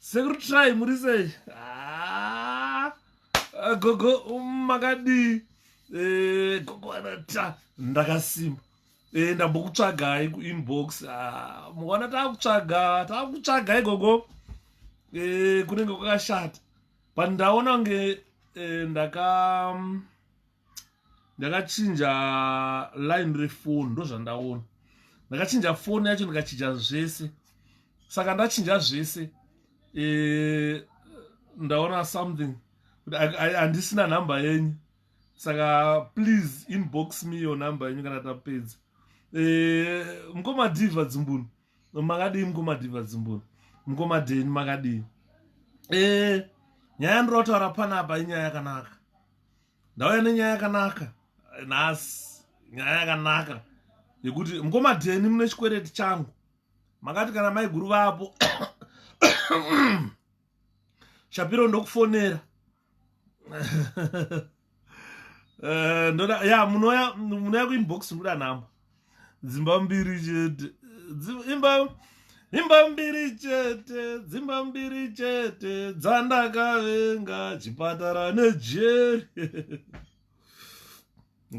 sekuru try muri sei ah, ah, gogo um, makadii eh, gogo anata ndakasimba eh, ndambokutsvagai kuinbox ah, mukaona taakutsvaga taakutsvagai gogo eh, kunenge kwakashata but ndaona kunge ndaka mm, ndakachinja line refoni ndozvandaona ndakachinja foni yacho ndikachinja zvese saka ndachinja zvese e, ndaona something handisina nhamba yenyu saka please inbox me yo nhamba yenyu kana tapedza e, eh, mkomadiva dzimbunu makadii mkomadiva dzimbunu mkomadeni makadii e, nyaya ndinotaura panapa inyaya yakanaka ndauya nenyaya yakanaka nhasi nyaya yakanaka yekuti mukoma dheni mune chikwereti changu makati kana maiguru vapo shapiro ndokufonera eh, ndoda ya munouya kuinbox ndoda nhamba dzimba mbiri chete imba imba mbiri chete dzimba mbiri chete dzandakavenga chipatara nejeri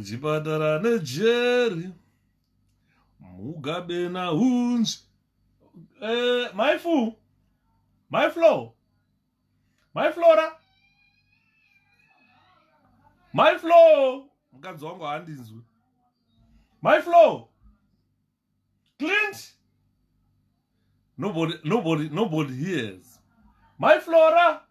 chipatara nejeri mugabe nahunzvi eh, maifu maiflow mai flora mai flo mukadzi wangu handinzwi mai flo clint nobody, nobody, nobody hears mai flora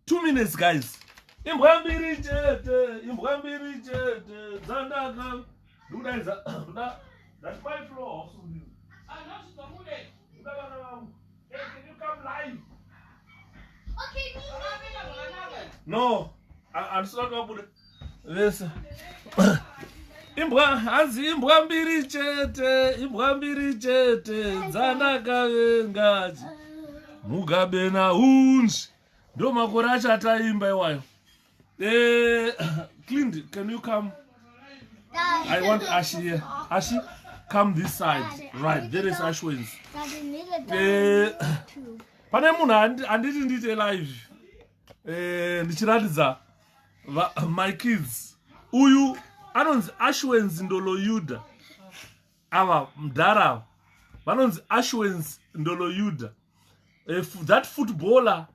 two minutes guys imbwa mbiri chete imbwa mbiri chete dzandaka ndikudaidza nda ndati mai flo hausundi anozvitomude kuda vana vangu no handisina kuti vabude vese imbwa hanzi imbwa mbiri chete imbwa mbiri chete dzandakavengaji mugabena unzi ndomakore achataimba iwayo Eh, Clint, can you come? I want Ashi here. Ashi, come this side. Right, there is Ash wins. Eh, pane munhu andi- anditi ndiite live Eh, ndichiratidza va- my kids uyu anonzi ashwens ndoloyuda ava mdhara ava vanonzi ashwens ndoloyuda Eh, f- that footballer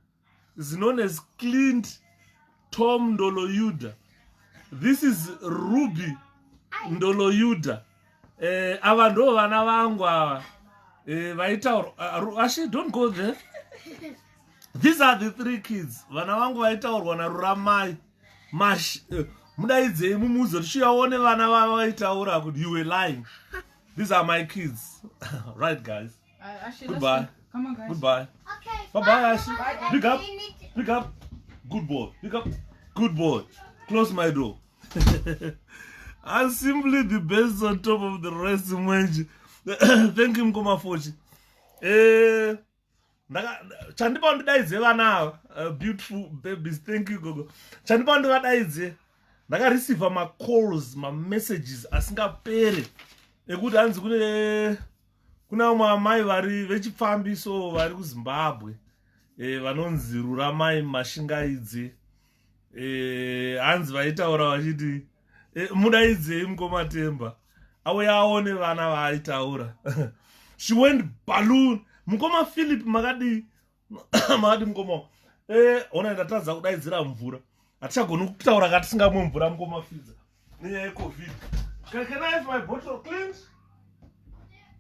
is known as clint tom ndoloyuda this is ruby ndoloyuda eh, ava ndo vana vangu ava eh, vaitaura uh, actually don't go there these are the three kids vana vangu vaitaurwa naruramai mash uh, mudaidzei mumuzo tichiyaone vana vava vaitaura kuti you were lying these are my kids right guys Goodbye. Come on, guys. Goodbye. Okay. Bye bye, Ashley. Pick up. Pick up. Good boy. Pick up. Good boy. Close my door. I'm simply the best on top of the rest mwenje. Thank you mkoma Fochi. Eh ndaka chandipa ndidaidze vana ava uh, beautiful babies thank you gogo chandipa ndivadaidze ndakareceiva macalls mamessages asingapere ekuti hanzi kune kune vamwe amai vari vechipfambi so vari kuzimbabwe e, vanonzi ruramai mashingaidzi e, hanzi vaitaura vachiti e, mudaidzei mukomatemba auya aone vana vaaitaura she went balloon mukoma philip makadii maadi mukoma eh, ona ndatadza kudaidzira mvura hatichagoni kutaura katisingamwe mvura mukoma fidza nenyaya yecovid can, can i have my bottle cleans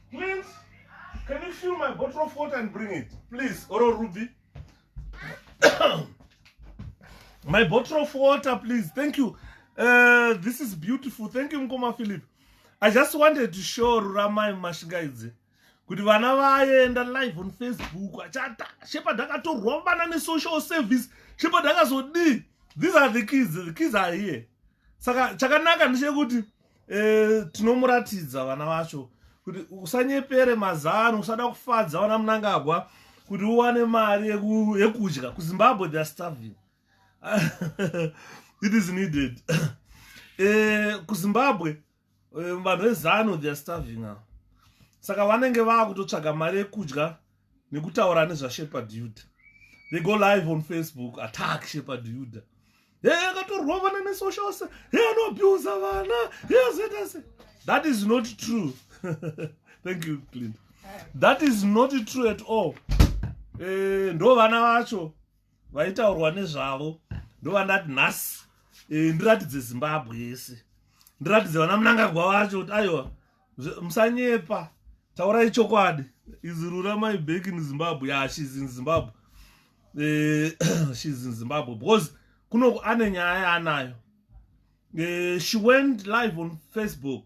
cleans can you fill my bottle of water and bring it please oro ruby my bottle of water please thank you uh, this is beautiful thank you mukoma philip i just wanted to show ruramai mashingaidzi kuti vana vaenda live on facebook achata shepard akatorwambana nesocial service shepard akazodii these are the kids the kids are here saka chakanaka ndechekuti eh, tinomuratidza vana vacho kuti usanyepere mazano usada kufadza vana munangagwa kuti uwane mari yekudya kuzimbabwe theyare starving it is needed eh, kuzimbabwe eh, vanhu vezano theyare starving avo saka vanenge vakutotsvaga mari yekudya nekutaura nezvashepard yuda they go live on facebook attack shepard yuda he akatorwa vana nesocials he anobusa vana he azoita se that is not true thank you clint that is not true at all eh, ndo vana vacho vaitaurwa nezvavo ndovandati nhasi e, ndiratidze zimbabwe yese ndiratidze vana munangagwa vacho kuti aiwa musanyepa taurai chokwadi izirura my back in zimbabwe ya yeah, shes in zimbabwe eh, shes in zimbabwe because kunoku ane nyaya yaanayo eh, she went live on facebook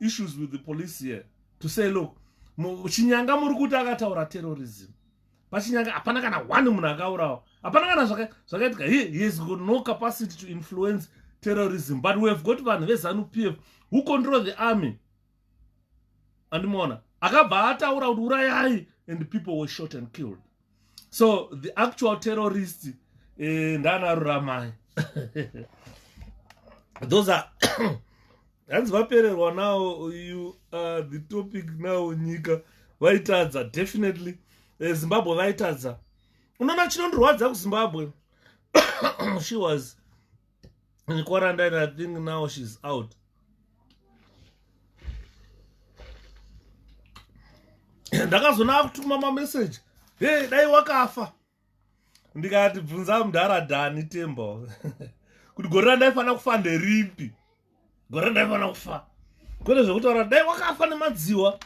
issues with the police here to say look chinyanga muri kuti akataura terrorism pachinyanga hapana kana one munhu akaurawa hapana kana zvakaitika he has got no capacity to influence terrorism but we have got vanhu vezanu p f who control the army andimoona akabva ataura kuti urayai and people were shot and killed so the actual terrorist eh, ndana ruramai those are hanzi vapererwa now you are the topic now nyika vaitadza definitely eh, zimbabwe vaitadza unoona chinondirwadza kuzimbabwe she was in quarantine i think now she's out ndakazoona akutuma mameseji hey dai wakafa ndikati bvunza mudhara dhani tembo kuti gore randaifanira kufa nderipi gore randaifanira kufa kwete zvekutaura dai wakafa nemadziwa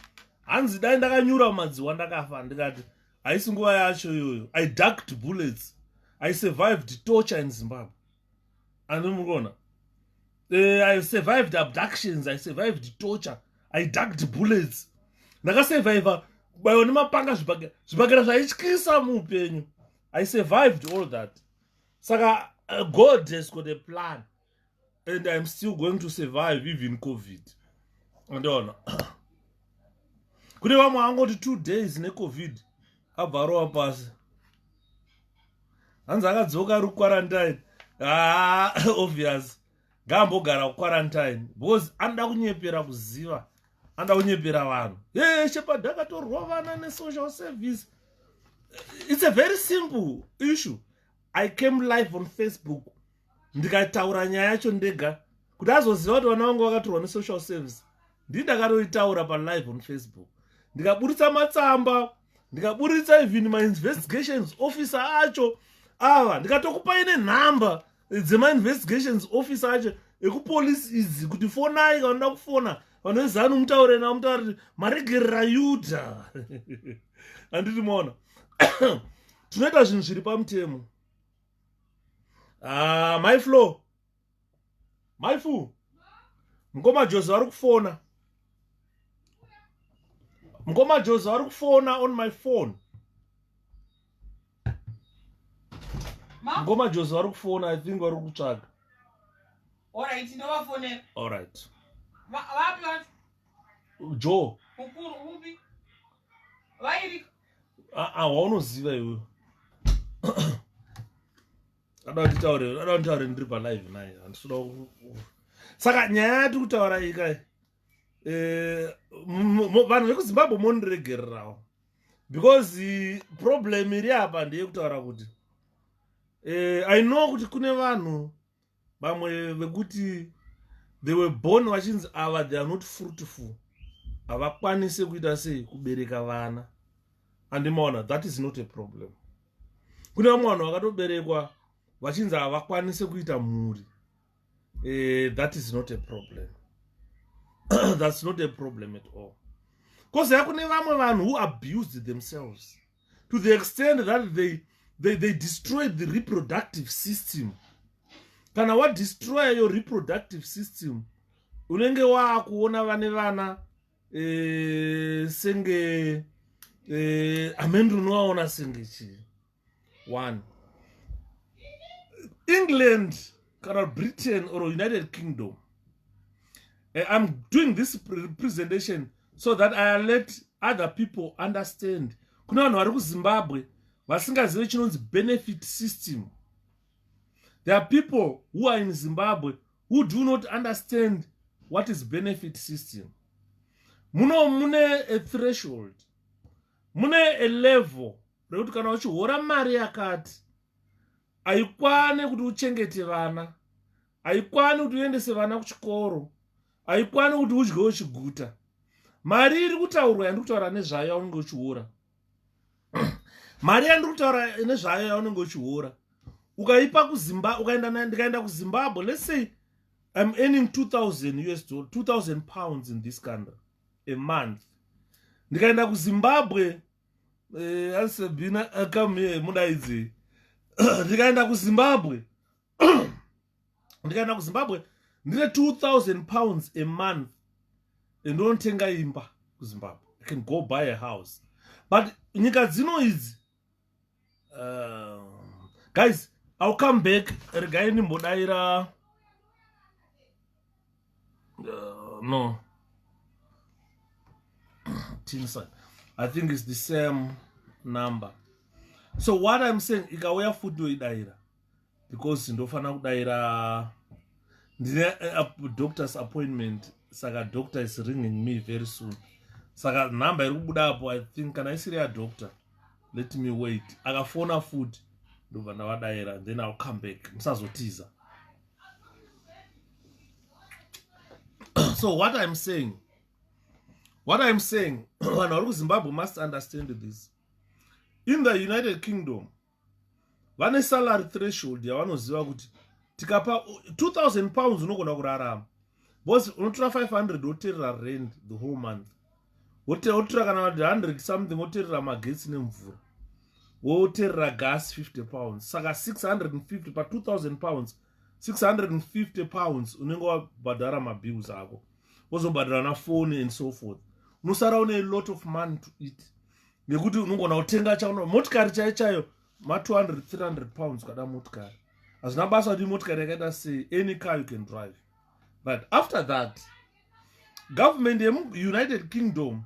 hanzi dai ndakanyura mumadziwa ndakafa ndikati haisi nguva yacho iyoyo i ducked bullets i survived torture in zimbabwe andimukuona uh, eh, i survived abductions i survived torture i ducked bullets ndakasurviva kubaiwa nemapanga zvibhagera zvibhagera zvaityisa muupenyu i survived all that saka uh, god has got a plan and iam still going to survive even covid andiona kune vamwe angoti two days necovid abva arova pasi hanzi akadzoka ari kuquarantine haa ah, obvious ngaambogara kuquarantine because anoda kunyepera kuziva anoda kunyepera vanhu e shepard akatorovana nesocial service it's a very simple issue i came live on facebook ndikataura nyaya yacho ndega kuti azoziva kuti vana vangu vakatorwa nesocial service ndii ndakatoitaura palive on facebook ndikaburitsa matsamba ndikaburitsa even mainvestigations officer acho ava ndikatokupai nenhamba dzemainvestigations officer acho ekupolice izi kuti fonai kanoda kufona vanoezanu mutaure navo mutaura kuti maregerera yuda handiti maona tinoita zvinhu zviri pamutemo ah, mai flo mai fu mukoma jozi vari kufona mukoma jozi vari kufona on my phone mukoma jozi vari kufona i think vari kutsvaga alright ndovafonera alright vapi vacho jo mukuru upi vairika waunoziva iwe ada kunditaure ada kunditaure ndiri palive naye handisida saka nyaya yati kutaura ika eh, vanhu vekuzimbabwe mondiregererawo because problem iri apa ndeyekutaura kuti eh, i know kuti kune vanhu vamwe vekuti they were born vachinzi ava they are not fruitful havakwanise kuita sei kubereka vana andimaona that is not a problem kune vamwe vanhu vakatoberekwa vachinzi havakwanise kuita mhuri eh, that is not a problem that's not a problem at all bcause yakune vamwe vanhu who abused themselves to the extent that they, they, they destroyed the reproductive system kana wadestroya your reproductive system unenge waakuona vane vana e, senge e, amene unovaona senge chii one england kana britain or united kingdom eh, i'm doing this presentation so that i let other people understand kune vanhu vari kuzimbabwe vasingazive chinonzi benefit system there are people who are in zimbabwe who do not understand what is benefit system muno mune a threshold mune a level rekuti kana uchihora mari yakati haikwane kuti uchengete vana haikwane kuti uendese vana kuchikoro haikwane kuti udye uchiguta mari iri kutaurwa yandiri kutaura nezvayo yaunenge uchiora mari yandiri kutaura nezvayo yaunenge uchiora ukaipa kuzimba ukaenda ndikaenda kuzimbabwe let's say i'm earning 2000 us dollar 2000 pounds in this country a month ndikaenda kuzimbabwe eh, asebina eh, come here mudaidzi ndikaenda kuzimbabwe ndikaenda kuzimbabwe ndine 2000 pounds a month ndinotenga imba kuzimbabwe i can go buy a house but nyika dzino idzi uh, guys ill come back regai ndimbodaira uh, no tinsa i think it's the same number so what i'm saying ikauya futi yoidaira because ndofanira kudaira ndine eh, doctor's appointment saka doctor is ringing me very soon saka number iri kubuda apo i think kana isiri yadoctor let me wait akafona futi ndobva ndavadaira then ill come back musazotiza so what iam saying what iam saying vanhu vari kuzimbabwe must understand this in the united kingdom vane salary threshold yavanoziva kuti tikapa 2000 pounds unogona kurarama bcause unotora 500 woterera rend the whole month wotora kana 100 something woterera magetsi nemvura woterera gas 50 pounds saka 650 pa 2000 pounds 650 pounds unenge wabhadhara mabills ako wozobhadhara na fone and so forth unosara une lot of money to eat nekuti unongona kutenga chaona motikari chai chayo ma200 300 pounds ukada motikari hazvina basa kuti motikari yakaita sei any car you can drive but after that government yemuunited kingdom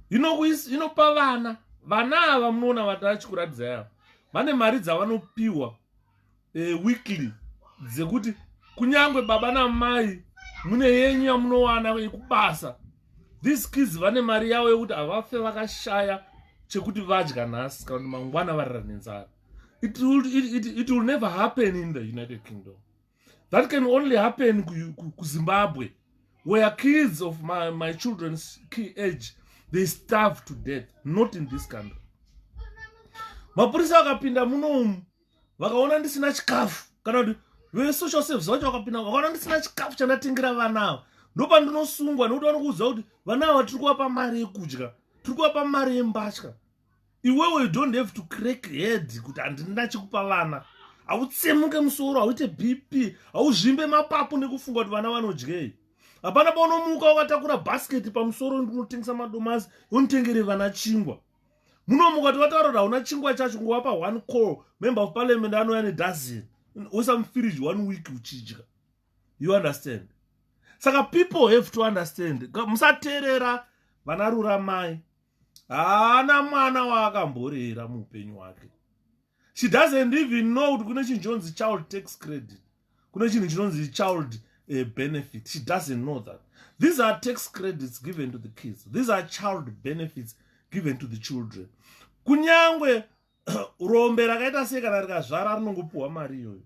inopa vana vana ava munoona vati achikuratidza yavo vane mari dzavanopiwa eh, weekly dzekuti kunyange baba namai mune yenyu yamunowana yekubasa these kids vane mari yavo yekuti havafe vakashaya chekuti vadya nhasi kana kuti mangwana varira nenzara it, it, it, it will never happen in the united kingdom that can only happen kuzimbabwe where kids of my, my children's key age they starve to death not in this country mapurisa akapinda munomu vakaona ndisina chikafu kana kuti vesocial service vacho vakapinda vakaona ndisina chikafu chandatengera vana ava ndopandinosungwa nekuti vanokuudza kuti vana ava tiri kuvapa mari yekudya tiri kuvapa mari yembatya iwewe you don't have to crack head kuti handina chekupa vana hautsemuke musoro hauite bp hauzvimbe mapapu nekufunga kuti vana vanodyei hapana paunomuka wakatakura bhasketi pamusoro unotengesa madomasi unotengere vana chingwa muno mukati wataura kuti hauna chingwa chacho ngowapa one call member of parliament anouya nedozen oisa mufiriji one week uchidya you understand saka people have to understand musateerera vana ruramai haana mwana waakamborera muupenyu hwake she doesn't even know kuti kune chinhu chinonzi child tax credit kune chinhu chinonzi child uh, benefit she doesn't know that these are tax credits given to the kids these are child benefits given to the children kunyange rombe rakaita sei kana rikazvara rinongopiwa mari iyoyo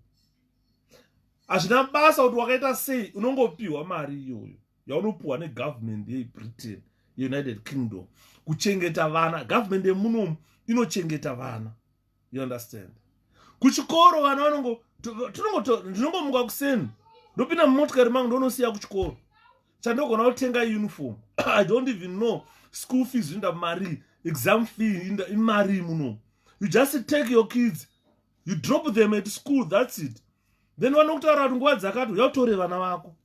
hazvina basa kuti wakaita sei unongopiwa mari iyoyo yaunopuhwa negovernment yebritain yeunited kingdom kuchengeta vana government yemunomu inochengeta vana you understand kuchikoro vana vanongo ndinongomuka kuseni ndopinda mumotikari mangu ndonosiya kuchikoro chandogona kutenga uniform i don't even know school fees inda mari exam fee inda imari muno you just take your kids you drop them at school that's it then vanokutarati nguva dzakati uyatore vana vako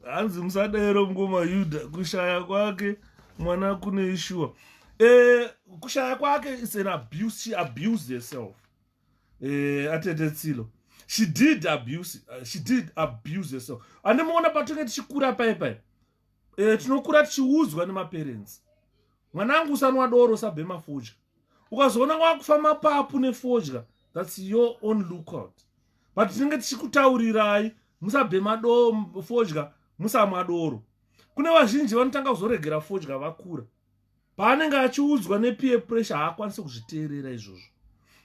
hanzi musadero mukoma yuda kushaya kwake mwana kune ishuwa e, eh, kushaya kwake is an abuse she abused herself e, eh, atete tsilo she did abuse uh, she did abuse herself andimuona patonge tichikura paye paye e, eh, tinokura tichiudzwa nemaparents mwanangu usanwa doro usabhema fodya ukazoona wakufa mapapu nefodya thats your own lookout but tinenge tichikutaurirai musabhema doo fodya musamwa doro kune vazhinji vanotanga kuzoregera fodya vakura paanenge achiudzwa nepeer pressure haakwanisi kuzviteerera izvozvo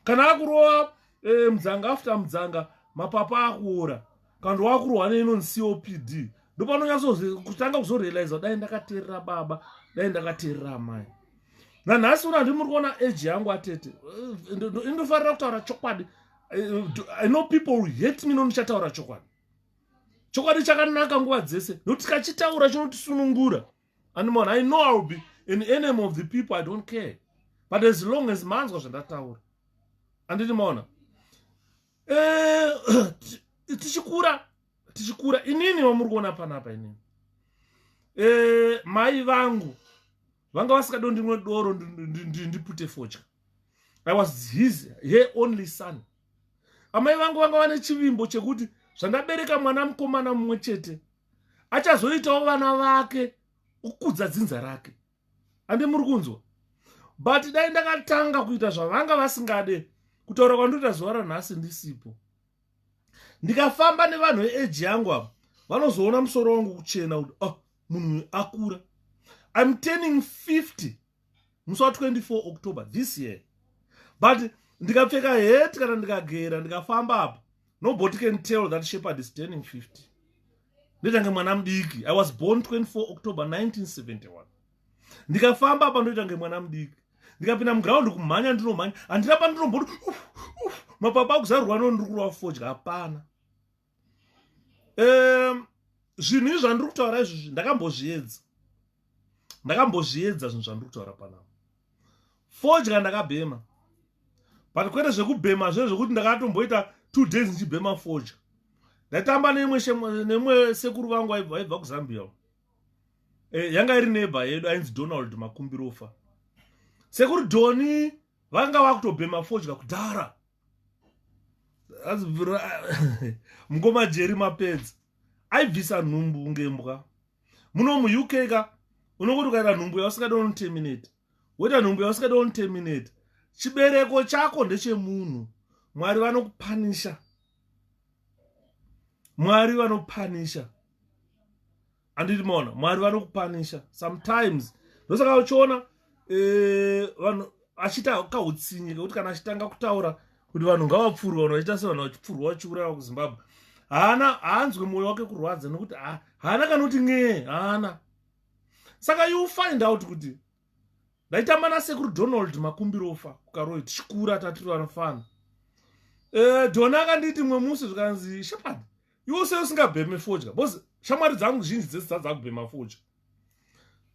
kana akurova e, eh, mudzanga after mudzanga mapapa akuora kana wakurohwa neinon copd ndopanonyatsokutanga kuzorealiza dai ndakateerera baba dai ndakateerera amai nanhasi una ndimuri kuona age yangu atete eh, indofarira kutaura chokwadi eh, i know people will hate me nonichataura chokwadi chokwadi chakanaka nguva dzese nokuti kachitaura chinotisunungura andimon i know iwill be an enemy of the people i don't care but as long as manzwa zvandataura anditi maona eh, tichikura tichikura inini vamuri kuona panapa inini eh, mai vangu vanga vasikado ndinwe doro ndipute fodya i was his her only son amai vangu vanga vane chivimbo chekuti zvandabereka mwana mukomana mumwe chete achazoitawo vana vake ukudza dzinza rake ande muri kunzwa but dai ndakatanga kuita zvavanga vasingade kutaura kwandinoita zuva ranhasi ndisipo ndikafamba nevanhu veeji yangu avo vanozoona musoro wangu kuchena kuti oh munhu akura im turning 50 musi wa 24 october this year but ndikapfeka het kana ndikagera ndikafamba apa nobody can tell that shepherd is turning 50 ndetange mwana mudiki i was born 24 october 1971 ndikafamba apa ndoita kunge mwana mudiki ndikapinda muground kumhanya ndinomhanya handina pandinomboti mapapa akuzarurwa no ndiri kurova fodya hapana um zvinhu izvi zvandiri kutaura izvozvi ndakambozviedza ndakambozviedza zvinhu zvandiri kutaura panapa fodya ndakabhema but kwete zvekubhema zve zvekuti ndakatomboita two days ndichibhema fodya ndaitamba neimwe sekuru vangu vaibva kuzambia eh, yanga iri neba yedu ainzi donald makumbirofa sekuri doni vanga vakutobhema fodya kudhara mukoma jeri mapedzi aibvisa nhumbu ngembwa muno muuk ka unongoti ukaita nhumbu yausingada unoterminate woita nhumbu yausingada unoterminate chibereko chako ndechemunhu mwari vanokupanisha mwari vanopanisha anditi maona mwari vanokupanisha sometimes ndosaka uchiona eh, vanhu e, achiita kautsinye kekuti kana achitanga kutaura kuti vanhu ngavapfurwe vanhu vachiita sevanhu vachipfurwa vachiuraya kuzimbabwe haana haanzwe mwoyo wake kurwadza nokuti haana kana kuti n'ee haana saka you find out kuti ndaitamba nasekuru donald makumbirofa kukaroi tichikura tatiri vanofana e, eh, dona akanditi mwe musi zvikanzi shepard iwo se usingabheme fodya bcause shamwari dzangu zhinji dzese dzadzakubhema fodya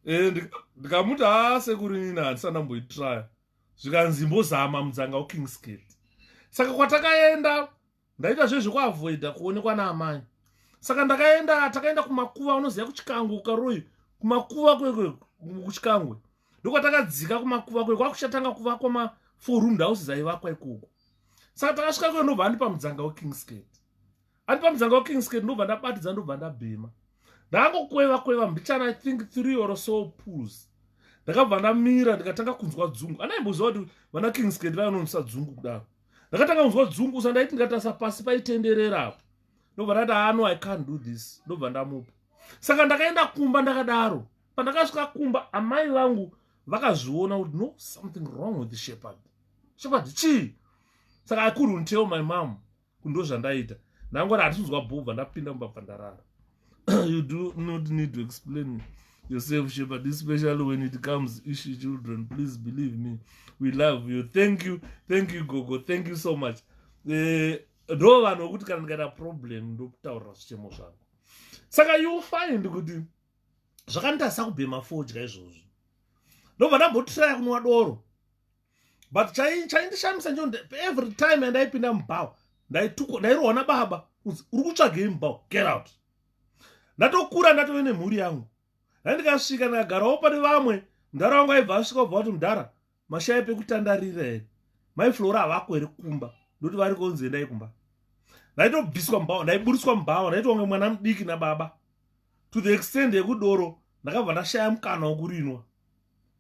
e, eh, ndikamuti ha sekuru nini handisana mboitraya zvikanzi mbozama mudzanga ukingsgate saka kwatakaenda ndaita zvezve kuavoida kuonekwa naamai saka ndakaenda takaenda kumakuva unoziva kuchikangwe ukaroyi kumakuva kuchikangwe ndokwatakadzika kumakuva kwe kwakuchatanga kuvakwa mafour room houses aivakwa ikoko saka takasvika kwe ndobva andipa mudzanga wekingsgate andipa mudzanga wekingsgate ndobva ndabatidza ndobva ndabhema ndangokweva kweva mbichana i think three or so pools ndakabva ndamira ndikatanga kunzwa dzungu anaimboziva kuti vana kings kend vayanonwisa dzungu kudaro ndakatanga kunzwa dzungu sa ndaiti ndikatarisa pasi paitenderera apo ndobva ndati ano ah, i can't do this ndobva ndamupa saka ndakaenda kumba ndakadaro pandakasvika kumba amai vangu vakazviona kuti no something wrong with shepherd shepherd chii saka i couldn't tell my mom kundo zvandaita ndangori hatisinzwa bhobva ndapinda mubva bva ndarara you do not need to explain yourself shepherd especially when it comes ishi children please believe me we love you thank you thank you gogo thank you so much eh, ndo vanhu vokuti kana ndikaita problem ndokutaurira zvichemo zvangu saka you find kuti zvakanditarisa kubhema fodya izvozvo ndobva ndambotiraya kunwa doro but chaindishamisa njo every time andaipinda mubhawa ndaitukwa ndairohwa nababa kunzi uri kutsvagei mubhawa get out ndatokura ndatove nemhuri yangu ndandikasvika ndakagarawo pane vamwe mudhara wangu aibva asvika ubva kuti mudhara mashaya pekutandarira here mai flora havako here kumba ndokuti vari konzi endai kumba ndaitobviswa mubhawa ndaiburitswa mubhawa ndaitonge mwana mudiki nababa to the extend yekudoro ndakabva ndashaya mukana wokurinwa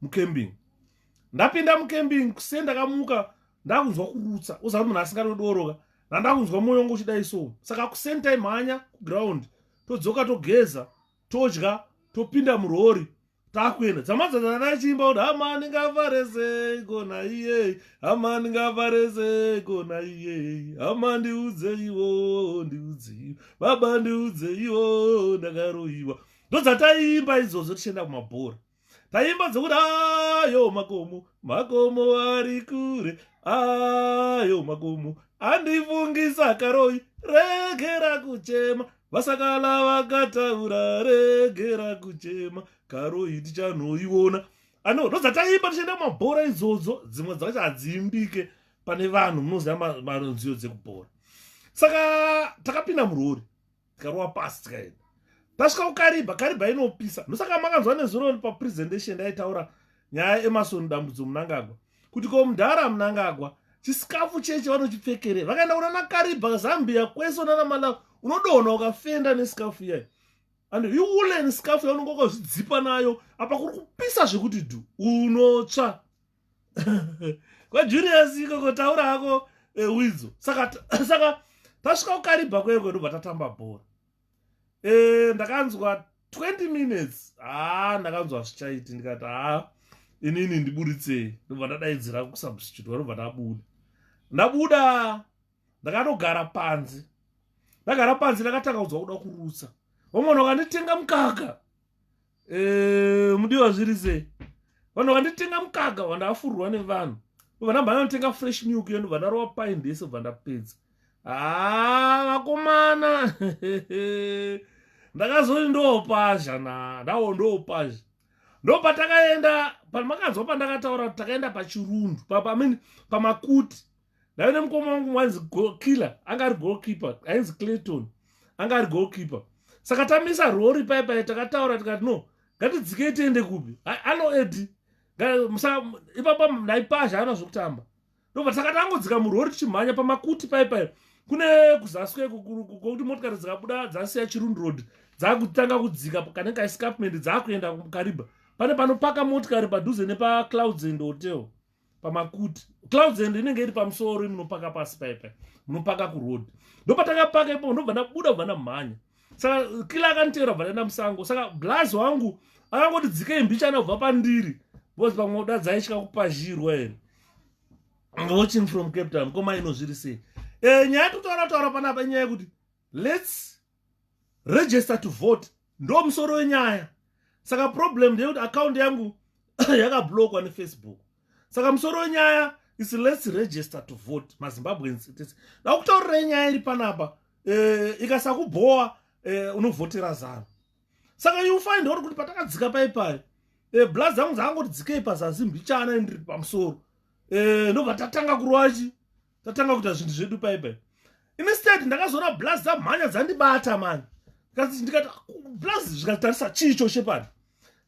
mucamping ndapinda mucamping kuse ndakamuka ndakunzwa kurutsa uzavi munhu asingatodoroka ndandakunzwa mwoyo wangu uchidai so saka kusame time hanya kuground todzoka togeza todya topinda murori takuenda dzamadzadza ndachiimba kuti hamani ngavarese kona iyei hamani ngavarese kona iyei hama ndiudzeiwo ndiudzeiwo baba ndiudzeiwo ndakaroiwa ndodzataiimba idzodzo tichienda kumabhora taimba dzokuti ayo makomo makomo ari kure ayo makomo andifungisa karoi regera kuchema vasakala vakataura regera kuchema karoi tichanoiona ano ndodzataimba tichienda kumabhora idzodzo dzimwe dzacho hadziimbike pane vanhu munoziva manziyo dzekubhora saka takapinda murori tikarova pasi tikaenda tasvika kukariba kariba inopisa ndosaka makanzwa nezuro papresentation ndaitaura nyaya emasoni dambudzo munangagwa kuti ko mudhara munangagwa chisikafu cheche vanochipfekere vakaenda kuna nakariba zambia kwese unana malawi unodona ukafenda nesikafu iyayo and iwulen sikafu yaunenge wakazvidzipa nayo apa kuri kupisa zvekuti dhu unotsva kwajulius ikoko taura hako eh, widzo saka saka tasvika kukaribha kweye kwedu bva tatamba bhora eh, ndakanzwa 20 minutes haa ah, ndakanzwa zvichaiti ndikati haa ah, inini ndiburitsei ndobva ndadaidzira kusubstitute vanobva ndabuda ndabuda ndakanogara panze ndagara panze ndakatanga kudzwa kuda kurutsa vamwana vakanditenga mukaka eh, mudiwa zviri sei vanhu vanditenga mukaka vandafurwa nevanhu vanamhana anotenga fresh milk yenu vandarowa paindi yese bva ndapedza haa ah, vakomana ndakazoti ndopazha na ndawo ndopazha ndopatakaenda pamakanzwa pandakataura takaenda pachirundu pamakuti ndave nemukoma wangu wainzi golkiller anga ari golkeeper ainzi clayton anga ari golkeeper saka tamisa rori pai pai takataura tikati no ngatidzikei tiende kupi ano edi ipapa ndaipazha ana zvokutamba ndobva takati angodzika murori tichimhanya pamakuti pai pai kune kuzaswe kokuti motikari dzikabuda dzasiya chirund road dzakutanga kudzika kanenge kaescapment dzakuenda kukariba pane panopaka motikari padhuze nepaclouds and hotel pamakuti clouds and inenge iri pamusoro munopaka pasi paipa munopaka kuroad ndopatakapaka ipo ndobva ndabuda kubva ndamhanya saka kila akanditeera kubva ndaenda musango saka blaz wangu akangoti dzikei mbichana kubva pandiri because pamwe uda dzaitya kupazhirwa here watching from cape town koma inozviri sei e, nyaya totaura taura panapa inyaya yekuti lets register to vote ndo musoro wenyaya saka problem ndeyekuti account yangu yakablokwa nefacebook saka musoro wenyaya is lets register to vote mazimbabweans dakutaurira inyaya iri panapa eh, ikasakubhowa eh, unovhotera zano saka you find out kuti patakadzika pai pai eh, bla dzangu dzakangoti dzikei pazasi mbichana indiri pamusoro ndobva tatanga kurwachi tatanga kuita zvinhu zvedu pai pai instead ndakazoona blaz dzamhanya dzandibata mani ndikati blaz zvikatarisa chii cho shepard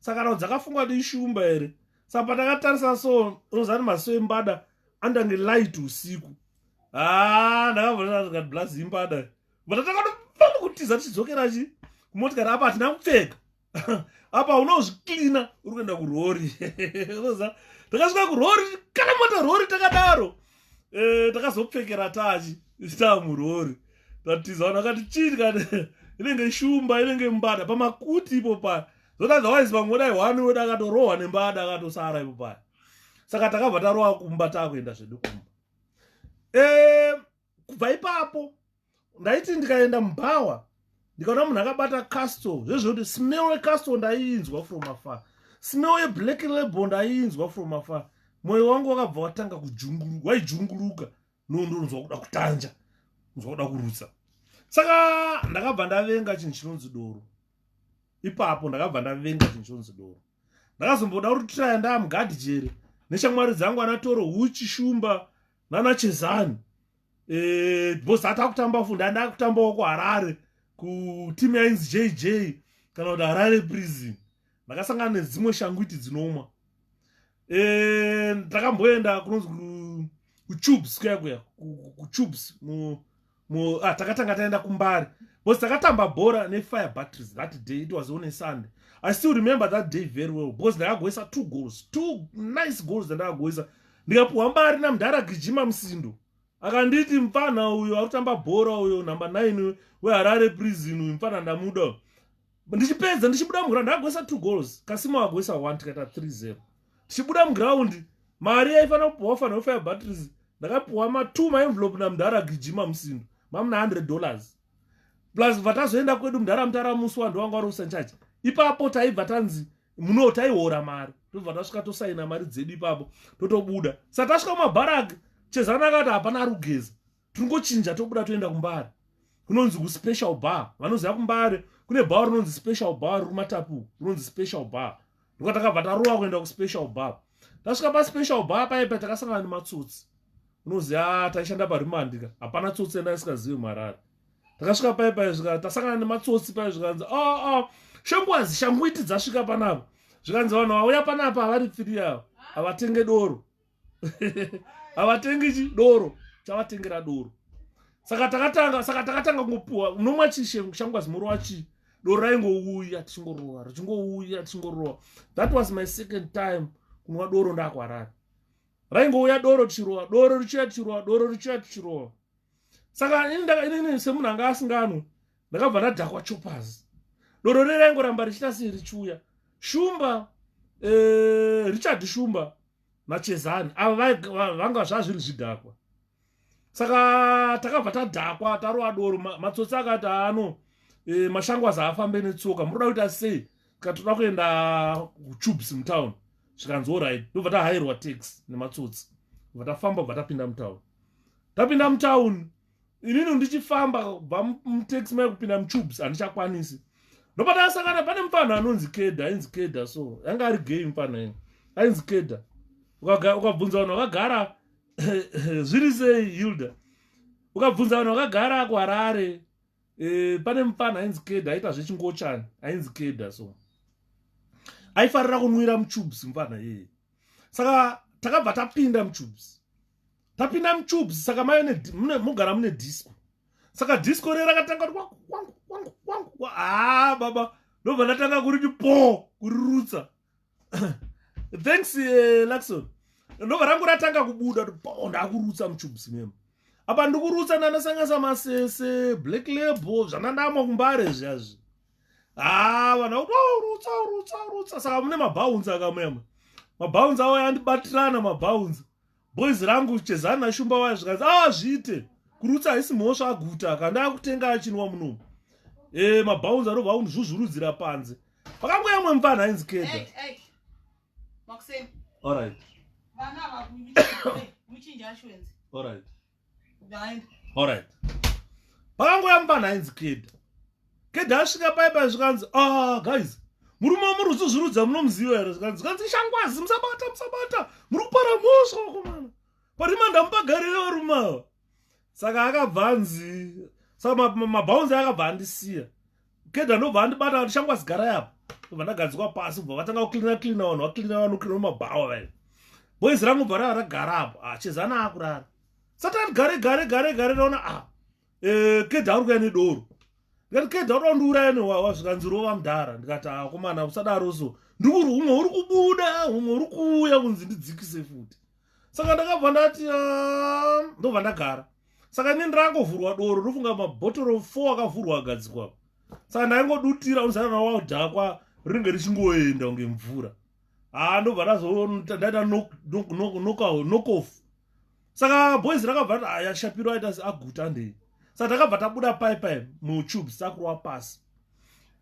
saka rao dzakafunga kuti ishumba here saka pandakatarisa so rozani maso embada andange light usiku haa ndakavonaa blaz imbada but atakatofana kutiza tichidzokera chi kumotikari apa hatina kupfeka apa unozviklina uri kuenda kurori oza takasvika kurori karamata rori takadaro eh, takazopfekera tachi taa murori tatiza vanhu vakati chii kani inenge shumba inenge mbada pamakuti ipo paya zotazawaizi vamwe vodai hwani weda akatorohwa nembada akatosara ipo paya saka takabva tarowa kumba taakuenda zvedu kumba eh, kubva ipapo ndaiti ndikaenda mubhawa ndikaona munhu akabata castle zvezvekuti smell yecastle ndaiinzwa from afar smell yeblack label ndaiinzwa from afar mwoyo wangu wakabva watanga kujunguruka waijunguruka no ndonzwa kuda kutanja nzwa kuda kurutsa saka ndakabva ndavenga chinhu chinonzi doro ipapo ndakabva ndavenga chinhu chinonzi doro ndakazomboda kuti traya ndaamgadijere neshamwari dzangu anatoro huchi shumba nana chezani eh, because ati akutamba fundi andi akutambawo kuharare kuteam yainzi jj kana kuti harare prison ndakasangana nedzimwe shangwiti dzinomwa eh, ndakamboenda kunonzi kutubes kuya kuya kutubes ah, takatanga taenda kumbari because takatamba bhora nefire batteries that day it was on a sunday i still remember that day very well because ndakagoisa two goals two nice goals dzandakagoisa ndikapuhwa mbari namdhara gijima musindo akanditi mfana uyo akutamba bhora uyo number 9 weharare prison uyu mfana ndamuda ndichipedza ndichibuda muground agoisa two goals kasimo agoisa one tikaita 30 tichibuda muground mari yaifanira kupiwa fanira kufaya batteries ndakapiwa matwo maenvelope namdhara gijima musindo mamuna 100 dollars plus vatazoenda kwedu mdhara mutara musi wandu wanga wari usanchachi ipapo taibva tanzi muno taihora mari tobva tasvika tosaina mari dzedu ipapo totobuda satasvika mumabharaki chezana akati hapana ari kugeza tingochinja tobuda toenda kumbare kunonzi kuspecial bar vanoziva kumbare kune bar rinonzi special bar riri kumatapu rinonzi special bar ndoka takabva tarova kuenda kuspecial bar tasvika paspecial bar paye pa takasangana nematsotsi unoziva ah, taishanda parimandika hapana tsotsi yanda isikazivi marari takasvika paye paye zvika tasangana nematsotsi paye zvikanzi aa oh, oh, shongwazi shanguiti dzasvika panapa zvikanzi vanhu vauya panapa havari pfiri yavo havatenge doro havatengi chi doro chavatengera doro saka takatanga saka takatanga kungopiwa unomwa chi shangu azimorova chii doro raingouya tichingorova richingouya tichingorova that was my second time kunwa doro ndakwarara raingouya doro tichirova doro richiuya tichirova doro richiuya tichirova saka inini semunhu anga asinganwe ndakabva ndadhakwa chopas doro reraingoramba richita sei richiuya shumba eh, richard shumba machezani avo vanga zvazviri zvidhakwa saka takabva tadhakwa tarova doro matsotsi akati ano e, mashangwazi aafambe netsoka muroda kuita sei tika toda kuenda kutubes mutown zvikanzi orit ndobva tahairwa tax nematsotsi bva tafamba bva tapinda mutown tapinda mutown inini ndichifamba kubva mutaxi mai kupinda mutubes handichakwanisi ndopatakasangana pane mupfanhu anonzi keda ainzi keda so yanga ari gay mupfanhu ii ainzi keda ukabvunza vanhu vakagara zviri sei hilda ukabvunza vanhu vakagara kuharare e, pane mupfanhu ainzi keda aita zvechingochani ainzi keda so aifarira kunwira mutubes mupfanhu ii saka takabva tapinda mutubes tapinda muchubs saka mayo mugara mune disco saka disco ree rakatanga kuti wangu wangu wangu wangu haa ah, baba ndobva ndatanga kuriti po kurirutsa thanks uh, eh, luxon ndobva rangu ratanga kubuda kuti po ndakurutsa muchubs memo apa ndikurutsa ndanasanganisa masese black label zvanandamwa kumbare zviazvi haa ah, vanhu vakuti waurutsa oh, urutsa urutsa saka mune mabhaunzi akamuyamwe mabhaunzi awo yandibatirana mabhaunzi boys rangu chezani nashumba waya zvikanzi ah zviite kurutsa haisi mhosva aguta akandaa kutenga achinwa munomu e, eh, mabhaunzi anobva akundizvuzvurudzira panze pakango yamwe mvana ainzi keda hey, hey. Maxim. All right. Vana vakunyuchira. Muchinja ashwenzi. All right. alright pakangoya mubana ainzi keda keda asvika pai pai zvikanzi a ah, guys murume wamuri kuzvizvirudza munomuziva here zvikanzi zvikanzi ishangwazi musabata musabata muri kupara mhosva wakomana parima ndamupagarire varume ava saka akabva anzi saka mabhaunzi akabva andisiya Kedha ndobva andibata kuti shangwazi garai apa ndobva ndagadzikwa pasi bva vatanga kuclina clina vanhu vaclina vanoclina mabhawa vaye boys rangu bva rava ragara apo ah, chezana akurara satani gare gare gare gare raona a ah, eh, kedha ari kuya nedoro ndikati kedha uda undiuraya newawa zvikanzi rova mudhara ndikati akomana ah, usadaro so ndikuri umwe uri kubuda umwe uri kuuya kunzi ndidzikise futi saka ndakabva ndati ah, ndobva ndagara saka ini ndangovhurwa doro ndofunga mabhotoro four akavhurwa agadzikwa saka ndaingodutira unzana nawaldhakwa ringe richingoenda kunge mvura haa ah, ndobva ndazodaita nokof saka boys rakabva ti aya shapiro aita aguta ndei saka takabva tabuda paipai mutubes takurwa pasi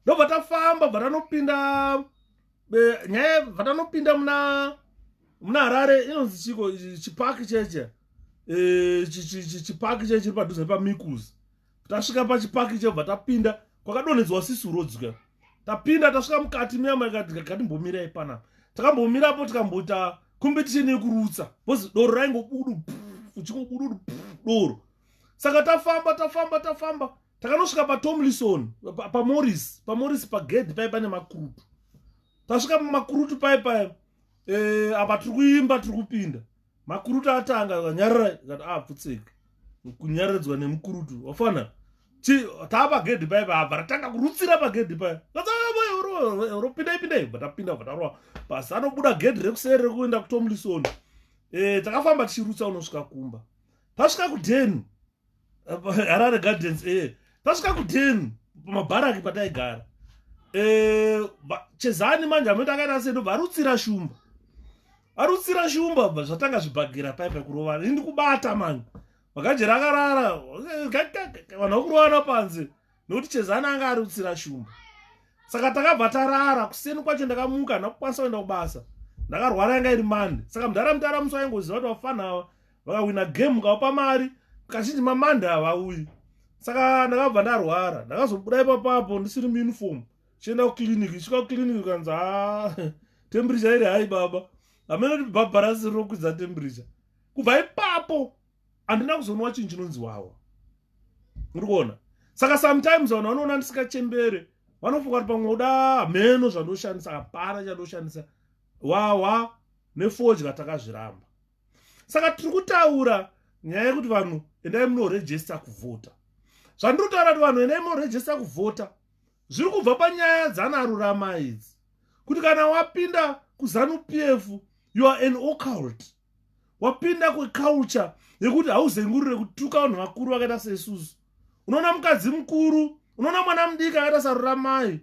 ndobva tafamba bva tanopinda nyaya vatanopinda muna muna harare inonzi chiko chipaki cheche e, chipaki cheche chiri padhuze nepamikuzi tasvika pachipaki chebva tapinda kwakadonhedzwa sisuro dzika tapinda tasvika mukati muyamakatikatimbomira panapa takambomirapo tikamboita competition yekurutsa bcause doro raingobudu uchingobudu doro saka tafamba tafamba tafamba takanosvika patomlison pamoris pamoris pagedhi paye pane makurutu tasvika pamakurutu paye paye eh, apa tiri kuimba tiri kupinda makurutu atanga akanyarara kati apfutseke ah, kunyararidzwa nemukurutu wafana taa pagedhi paye paye abva ratanga kurutsira pagedhi paye ropindai pindai bva tapinda bva taroa pasi anobuda gedhi rekuseri rekuenda kutomlison eh, takafamba tichirutsa unosvika kumba tasvika kudheni harare gardens e eh. tasvika kudin pamabharaki pataigara eh, chezani manje amene takaita sedu varutsira shumba arutsira shumba bva zvatanga zvibhagira pai pakurovana ini ndikubata mani vakajera akarara vanhu vakurovana panze nokuti chezana anga ari utsira shumba saka takabva tarara kuseni kwacho ndakamuka ndakukwanisa kuenda kubasa ndakarwara yanga iri mande saka mudhara mutara musi waingoziva kuti vafana ava vakahwina game mukaupa mari kazhinji mamande havauyi saka ndakabva ndarwara ndakazobuda ipapapo ndisiri muuniform chienda kuclinic isvika kuclinic ukanzi ha temperature iri hai baba hamene kuti bhabharasi rinokwidza temperature kubva ipapo andina kuzonwa chinhu chinonzi wawa muri kuona saka sometimes vanhu vanoona ndisingachembere vanofunga kuti pamwe uda hameno zvandoshandisa hapana chandoshandisa wawa nefodya takazviramba saka tiri kutaura nyaya yekuti vanhu endai munorejesta kuvhota zvandiri kutaura kuti vanhu endai munorejesta kuvhota zviri kubva panyaya dzanarurama idzi kuti kana wapinda kuzanu p f you are an ocult wapinda kweculture yekuti hauzengurire kutuka vanhu vakuru vakaita seisusu unoona mukadzi mukuru unoona mwana mudiki akaita sarura mai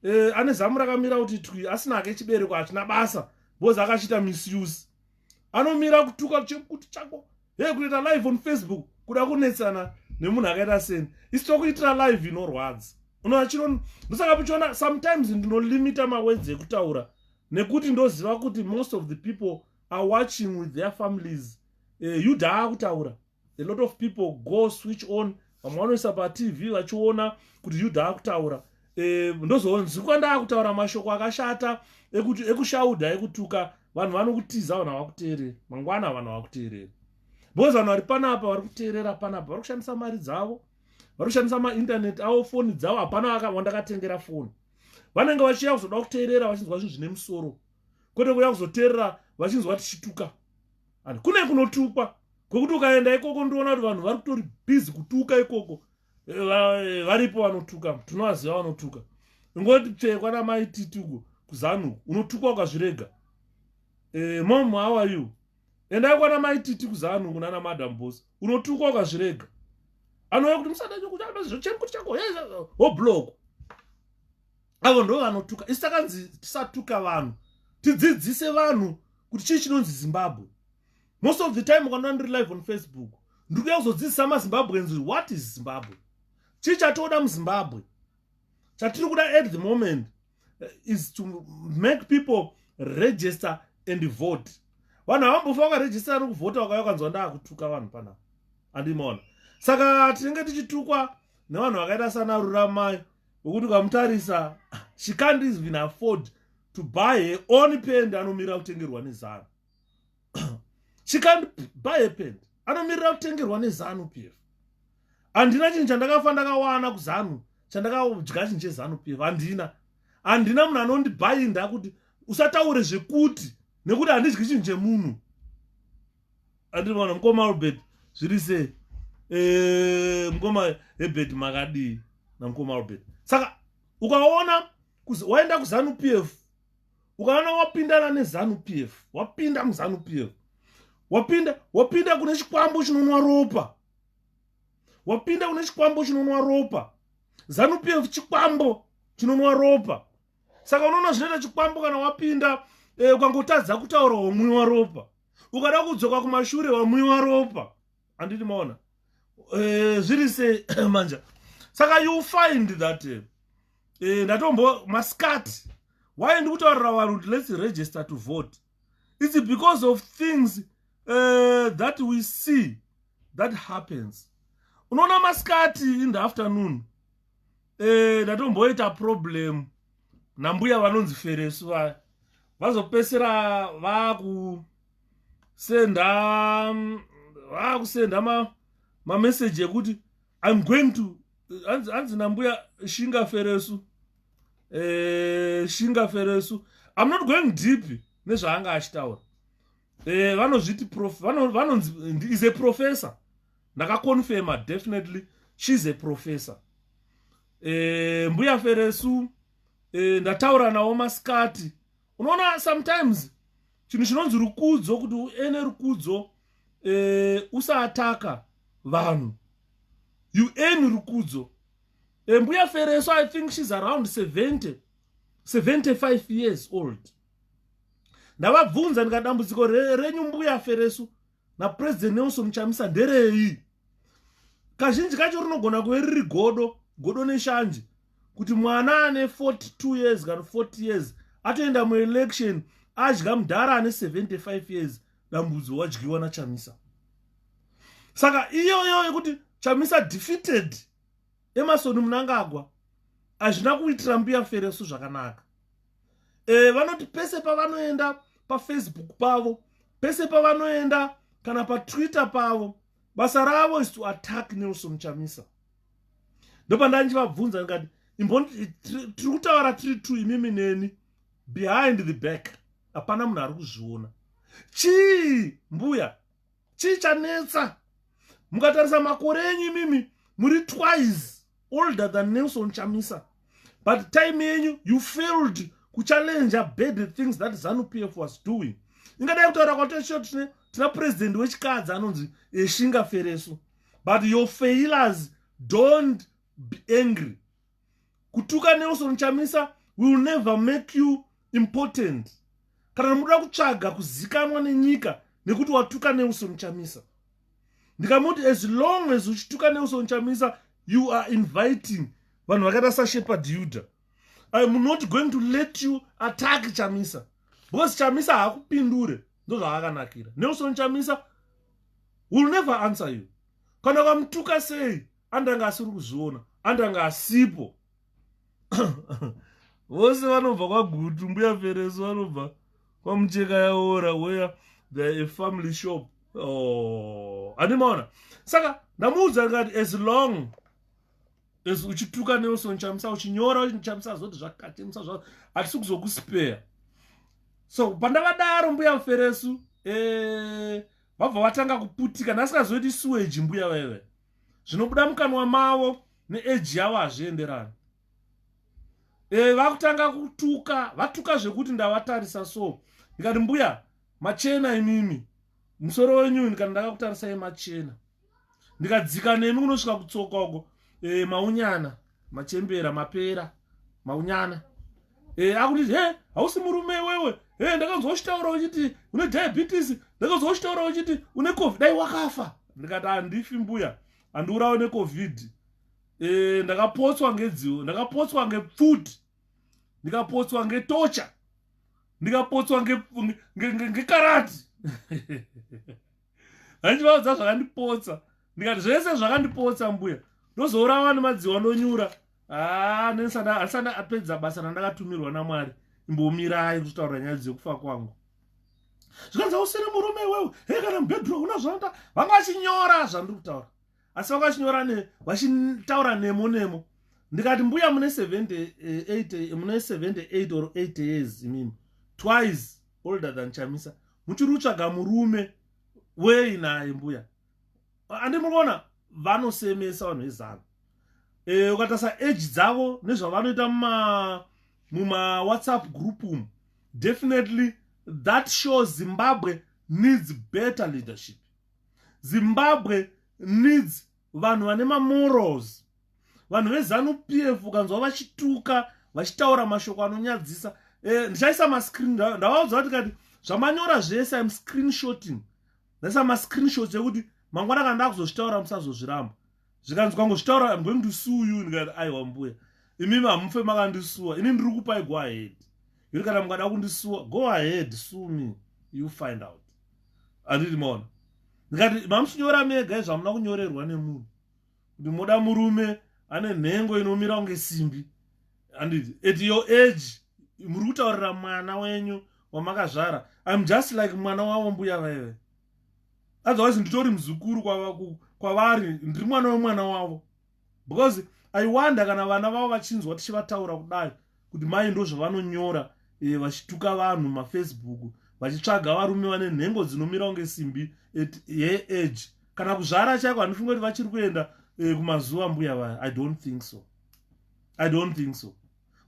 eh, ane zamu rakamira kuti twi asina hake chibereko hachina basa bcoz akachiita misuse anomira kutuka chekuti chako hey kutoita live on facebook kuda kunetsana nemunhu akaita seni isi tokuitira live inorwadza unoachiro ndosaka pichiona sometimes ndinolimita mawords ekutaura nekuti ndoziva kuti most of the people are watching with their families uh, eh, yuda akutaura a lot of people go switch on vamwe vanoisa patv vachiona kuti yuda akutaura uh, eh, ndozonzwikwa ndaakutaura mashoko akashata ekushauda ekutuka vanhu vanokutiza vanhu havakuteereri mangwana vanhu havakuteereri because vanhu vari panapa vari kuteerera panapa vari kushandisa mari dzavo vari kushandisa maintaneti avo foni dzavo hapana wandakatengera foni vanenge vachiya kuzoda kuteerera vachinzwa zvinhu zvine musoro kwete kuya kuzoteerera vachinzwa tichituka and kune kunotukwa kwekuti ukaenda ikoko ndiona kuti vanhu vari kutori busy kutuka ikoko eh, varipo vanotuka tinovaziva vanotuka ingoti tsvee kwana mai titugo kuzanu unotukwa ukazvirega eh, mom how are you endai kwana mai titi kuzanu kunana madam bos unotukwa ukazvirega anouya kuti musadachokuchaachokuti chako hoblock avo ndo vanotuka isu takanzi tisatuka vanhu tidzidzise vanhu kuti chii chinonzi zimbabwe most of the time ukanona ndiri live on facebook ndiri kuya kuzodzidzisa mazimbabweans what is zimbabwe chii chatoda muzimbabwe chatiri kuda at the moment eh, is to make people register and vote vanhu havambofa vakarejistera nokuvhota vakauya ukanzwa ndaakutuka vanhu panapa andimaona saka tinenge tichitukwa nevanhu vakaita sana ruramai wekuti ukamutarisa she can't even afford to buy her own pend anomirira kutengerwa nezanu she can't buy a pend anomirira kutengerwa nezanu pf handina chinhu chandakafa ndakawana kuzanu chandakadya chinhu chezanu pf handina handina munhu anondibhainda kuti usataure zvekuti nekuti handidyi chinhu chemunhu andiri mwana mukoma albert zviri sei eh, mukoma hebert makadii namukoma albert saka ukaona waenda kuzanu p f ukaona wapindana nezanu p f wapinda muzanu p f wapinda wapinda kune chikwambo chinonwa ropa wapinda kune chikwambo chinonwa ropa zanu p f chikwambo chinonwa ropa saka unoona zvinoita chikwambo kana wapinda eh, ukangotadza kutaura womwiwa ropa ukada kudzoka kumashure wamwiwa ropa anditi maona eh, zviri se manja saka you find that eh, eh, ndatombo maskat why ndikutaurira vanhu kuti let's register to vote its because of things uh, that we see that happens unoona maskati in the afternoon eh ndatomboita problem nambuya vanonzi feresu vaya vazopesera vaku senda vaku senda ma ma message ekuti i'm going to anzi anzi nambuya shinga feresu eh shinga feresu i'm not going deep nezvaanga achitaura eh vanozviti prof vanonzi is a professor ndakaconfirma definitely she's a professor e, mbuya feresu e, ndataura nawo masikati unoona sometimes chinhu chinonzi rukudzo kuti uene rukudzo e, usaataka vanhu you earn rukudzo e, mbuya feresu i think she's around 70 75 years old ndavabvunza ndikadambudziko renyu mbuya feresu napresident nelson chamisa nderei kazhinji kacho rinogona kuve riri godo godo neshanje kuti mwana ane 42 years kana 40 years atoenda muelection adya mudhara ane 75 years dambudzo wadyiwa nachamisa saka iyoyo yekuti chamisa defeated emasoni munangagwa hazvina kuitira mbuya feresu zvakanaka e, vanoti pese pavanoenda pafacebook pavo pese pavanoenda kana patwitter pavo basa ravo is to attack nelson chamisa ndopandandivabvunza ndikati tiri kutaura tiri two imimi neni behind the back hapana munhu ari kuzviona chii mbuya chii chanetsa mukatarisa makore enyu imimi muri twice older than nelson chamisa but time yenyu you failed kuchallenger bad things that zanu p f was doing ingadai kutaura kwatosho tine tina purezidendi wechikadzi anonzi eshinga fereso but your failures don't be angry kutuka nelson chamisa will never make you important kana muda kutsvaga kuzikanwa nenyika nekuti watuka nelson chamisa ndikamuti as long as uchituka nelson chamisa you are inviting vanhu vakaita sashepard yuda iam not going to let you attack chamisa because chamisa haakupindure ndozvaakanakira nelson chamisa will never answer you kana vamutuka sei andanga asiri kuzviona andanga asipo vose vanobva kwagutu mbuya fereso vanobva kwamucheka yaora where there a family shop oh, andimaona saka ndamuudza ngati as long as uchituka nelson chamisa uchinyora chamisa zvoti zvakatimisa zva hatisi kuzokuspeya so pandavadaro mbuya feresu eh, vabva e, vatanga kuputika ndasikazoiti suweji mbuya vaive zvinobuda mukanwa mavo neeji yavo hazvienderani e, vakutanga kutuka vatuka zvekuti ndavatarisa so ndikati mbuya machena imimi musoro wenyu ndikati ndakakutarisai machena ndikadzika nemi kunosvika kutsoka uko e, maunyana machembera mapera maunyana e, akuti he hausi murume iwewe e, ndakanzwa uchitaura uchiti une diabetes ndakanzwa uchitaura uchiti une covid dai wakafa ndikati handifi mbuya handiurawe necovid e, ndakapotswa ngedziwo ndakapotswa ngepfuti ndikapotswa ngetocha ndikapotswa ngekarati nge, nge, nge handivaudza zvakandipotsa ndikati zvese zvakandipotsa mbuya ndozoora wani madziwa ndonyura haa ah, nenisandisanda apedza basa randakatumirwa namwari imbomirai kutaura nyaya dzekufa kwangu zvikanzi usiri murume iwewe hei kana mubedroom una zvanoita vanga vachinyora zvandiri kutaura asi vanga vachinyora ne vachitaura nemo nemo ndikati mbuya mune 78 mune 78 or 8 years imimi twice older than chamisa muchiri kutsvaga murume wei naye mbuya andi mukuona vanosemesa vanhu vezanu e, eh, ukatasa age dzavo nezvavanoita muma muma whatsapp group umu definitely that show zimbabwe needs better leadership zimbabwe needs vanhu vane mamorals vanhu vezanu pf ukanzwa vachituka vachitaura mashoko anonyadzisa eh, ndichaisa mascreen ndavaudza kuti kati zvamanyora zvese im screen shooting ndaisa mascreen shots ekuti mangwana kana ndakuzozvitaura musazozviramba zvikanzi kwangozvitaura am going to sue you ndikati aiwa mbuya imimi hamufe makandisuwa ini ndiri kupai go ahead yuri kana mukada kundisuwa go ahead sue me you find out anditi maona ndikati mamuchinyora mega izvamuna kunyorerwa nemunhu kuti moda murume ane nhengo inomira kunge simbi handiti at your age muri kutaurira mwana wenyu wamakazvara im just like mwana wavo mbuya vaive otherwise nditori muzukuru kwavari ndiri mwana wemwana wavo because i wonder kana vana vavo vachinzwa tichivataura kudai kuti mai ndozvavanonyora e, vachituka vanhu mafacebook vachitsvaga varume vane nhengo dzinomira kunge simbi at her age kana kuzvara chaiko handifunge kuti vachiri kuenda e, kumazuva mbuya vaya i don't think so i don't think so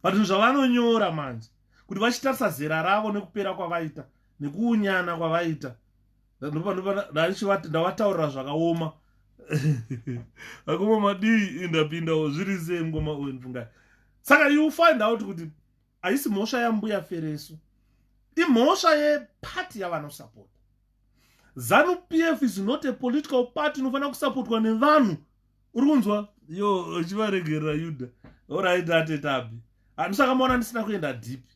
but zvinhu zvavanonyora manje kuti vachitarisa zera ravo nekupera kwavaita nekuunyana kwavaita ndavataurira zvakaoma akoma madii indapindawo zviri sei ngoma uyu ndfungai saka you find out kuti haisi mhosva yambuya fereso imhosva yepati yavanosapota zanu p f is not a political party inofanira kusapotwa nevanhu uri kunzwa yo uchivaregerera yuda oraitati tabi handisakamona ndisina kuenda dhipi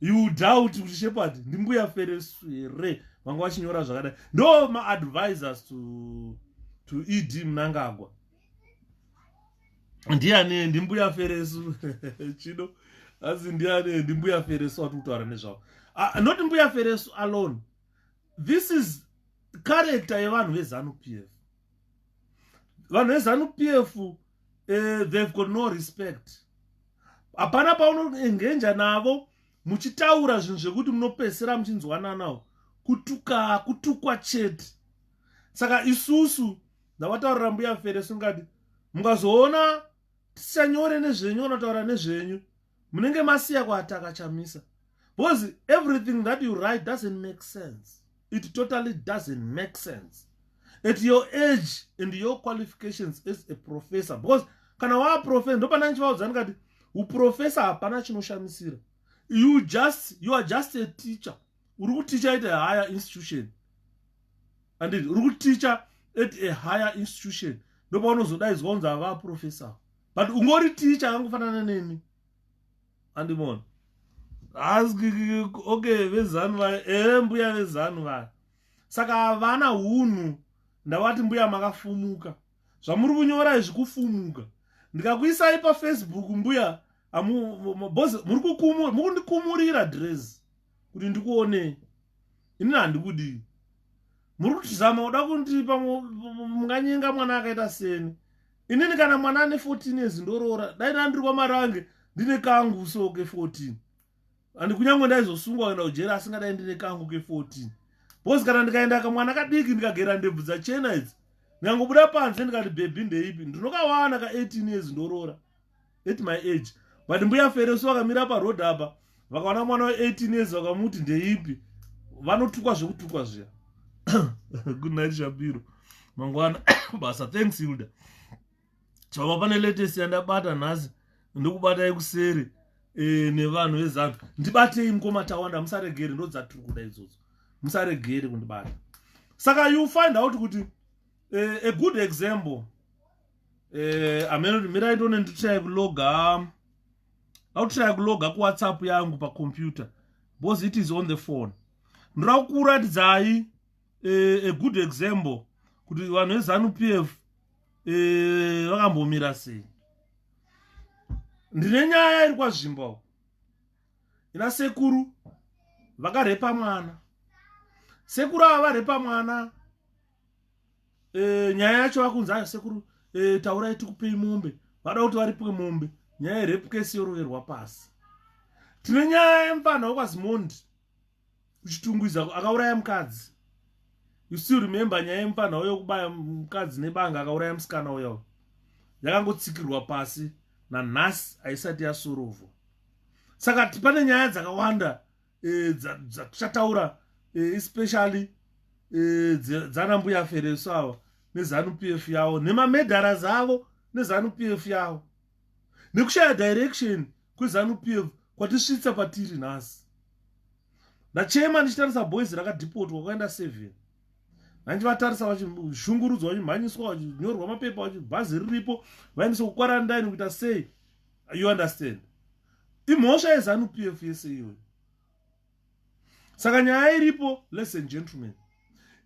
you doubt kuti shepherd ndimbuya feresu here vanga vachinyora zvakadai ndo maadvisors to, to ed munangagwa ndiani ndimbuya feresu chido asi ndiani ndimbuya feresu wati kutaura nezvavo ah, not mbuya feresu alone this is character yevanhu vezanup f vanhu vezanu p f uh, eh, they've got no respect hapana paunoengenja navo muchitaura zvinhu zvekuti munopesera muchinzwananawo kutuka kutukwa chete saka isusu ndavataurira mbuya fere sungati mungazoona tisanyore nezvenyu vanotaura nezvenyu munenge masiya kuataka chamisa because everything that you write doesn't make sense it totally doesn't make sense at your age and your qualifications as a professor because kana waaprofesa ndopana ndichivaudza ndikati uprofesa hapana chinoshamisira you just you are just a teacher uri kuticha at a higher institution anditi uri kuticha at a higher institution ndopaunozodaizwa kunzi avaprofesa but ungori ticha akangofanana neni andimona okay vezanu vaya ee mbuya vezanu vaya saka havana hunhu ndavati mbuya makafumuka zvamuri kunyora izvi kufumuka ndikakuisai pafacebook mbuya muri kukumura muri kundikumurira dress kuti ndikuonei ini handikudii muri kutizama kuda kundipa munganyenga mwana akaita seni inini kana mwana ane 14 years ndoroora dai ndandiri kwamarange ndine kangu so ke 14 and kunyange ndaizosungwa kuenda kujeri asingadai ndine kangu ke 14 bcause kana ndikaenda kamwana kadiki ndikagera ndebvu dzachena idzi nyangobuda panze ndikati bhebhi ndeipi ndinokawana ka 18 years ndoroora at my age but mbuya feresu vakamira paroad apa vakaona mwana we18 years vakamuti ndeipi vanotukwa zvekutukwa zviya good night shapiro mangwana basa thanks hilda chava pane latest yandabata nhasi ndikubatai kuseri e, nevanhu vezanu ndibatei mukoma tawanda musaregere ndodzatiri kuda idzodzo musaregere kundibata saka you find out kuti e, a good example eh, amenoti mirai tone nditrai kuloga vakutrai kuloga kuwhatsapp yangu pacomputer bcause it is on the phone ndoda kukuratidzai eh, a good example kuti vanhu vezanu p f eh, vakambomira sei ndine nyaya iri kwazvimbo ina sekuru vakarepa mwana sekuru ava varepa mwana e, nyaya yacho vakunzi ayo sekuru e, taurai tikupei mombe vada kuti varipwe mombe nyaya yerepu kesi yoroverwa pasi tine nyaya yemfanha wekwazimondi uchitungwiza akauraya mukadzi you still remember nyaya yemfanha uyo kubaya mukadzi nebanga akauraya musikana uyo yakangotsikirwa pasi nanhasi haisati yasurovwa saka pane nyaya dzakawanda e, dzatichataura e, especially e, dzana mbuya fereso ava nezanup f yavo nemamedhara zavo nezanup f yavo nekushaya direction kwezanup f kwatisvitsa patiri nhasi ndachema ndichitarisa boys rakadhipotwa kwaenda seven ndandivatarisa vachishungurudzwa vachimhanyiswa vachinyorwa mapepa vachibhazi riripo vaendeswa kukwarandaini kuita sei you understand imhosva yezanu p f yese iyoyo saka nyaya iripo less and gentleman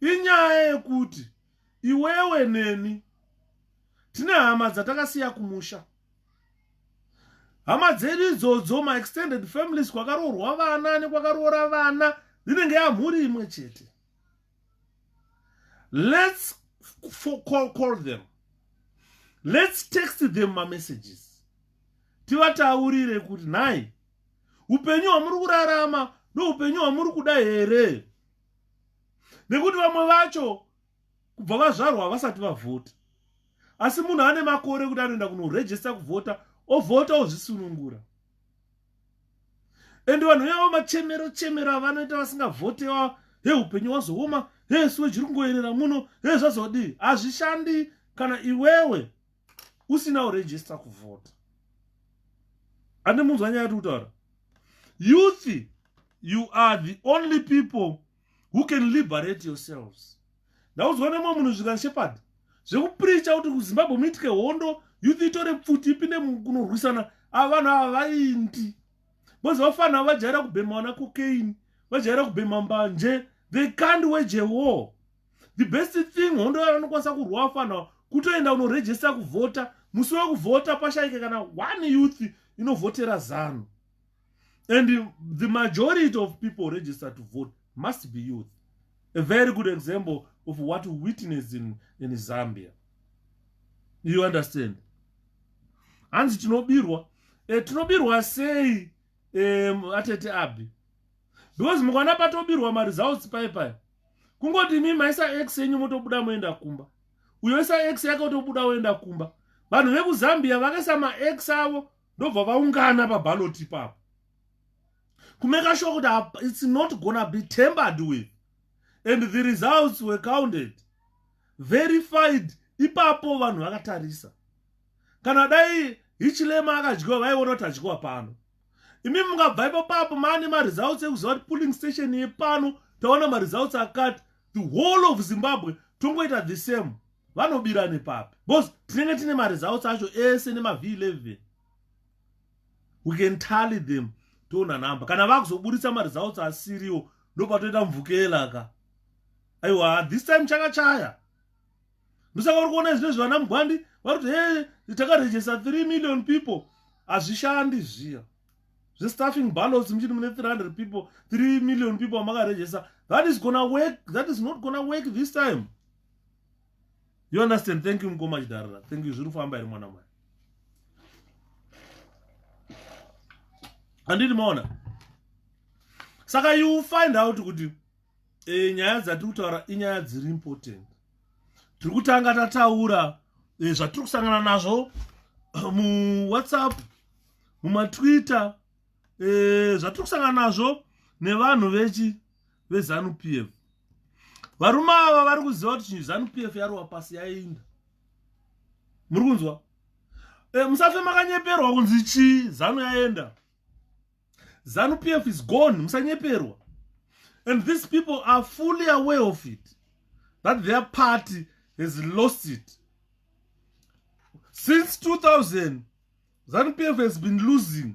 inyaya yekuti iwewe neni tine hama dzatakasiya kumusha hama dzedu idzodzo maextended families kwakaroorwa vana nekwakaroora vana dzinenge yamhuri imwe chete let's call, call them let's text them mamessages tivataurire kuti nhai upenyu hwamuri kurarama ndoupenyu hwamuri kuda here nekuti vamwe vacho kubva vazvarwa havasati vavhota asi munhu ane makore kuti anoenda kunorejista kuvhota ovhota ozvisunungura and vanhu yavo machemero chemero avanoita vasingavhotewa he upenyu wazooma he siwe chiri kungoyerera muno he zvazodii hazvishandi kana iwewe usina urejista kuvhota ane munzwa nyaya yati kutaura youth you are the only people who can liberate yourselves ndaudzwa nemwe munhu zvikan shepherd zvekupricha kuti kuzimbabwe muitike hondo youth itore pfuti ipinde kunorwisana ava vanhu ava vaindi bcoz vafanira vajaira kubhema vana cocaine vajaira kubhema mbanje they can't wage a war the best thing hondo yavo vanokwanisa kurwa vafanira kutoenda unorejesta kuvhota musi wekuvhota pashaike kana one youth inovhotera zanu and the majority of people register to vote must be youth a very good example of what we witness in, in zambia you understand hanzi tinobirwa e, tinobirwa sei um, atete abi because mukwana patobirwa maresults pai pai kungoti imi maisa x yenyu motobuda moenda kumba uyo isa x yake otobuda oenda kumba vanhu vekuzambia vakaisa max avo ndobva vaungana pabaloti ipapo kumeka sure kuti its not gonna be tembered with and the results were counted verified ipapo vanhu vakatarisa kana dai hichilema akadyiwa vaiona kuti adyiwa pano imi mungabva ipo papo maane maresults ekuziva kuti pulling station yepano taona maresults akati the whole of zimbabwe tongoita the same vanobira nepapi bcause tinenge tine maresults acho ese nemavh 11 we can tally them toona number kana vakuzoburitsa maresults asiriwo ndopatoita mvukela ka aiwa this time chakachaya ndosaka uri kuona izvino zvivana mugwandi vari kuti he takarejesta 3 million people hazvishandi zviya zvestaffing ballots muchiti mune 300 people 3 million people vamakarejesta that is gona work that is not gona work this time you understand thank you mukoma chidharara thank you zviri kufamba here mwana mwari handiti maona saka you find out kuti e, nyaya dzatiri kutaura inyaya dziri important tiri kutanga tataura e, zvatiri kusangana nazvo muwhatsapp mumatwitter e, zvatiri kusangana nazvo nevanhu vechi vezanu p f varume ava vari kuziva kuti chinhu zanu p f yarova pasi yainda muri kunzwa e, musafe makanyeperwa kunzi chii zanu yaenda zanu p f is gone musanyeperwa and these people are fully aware of it that their party has lost it since 2000 zanu p f has been losing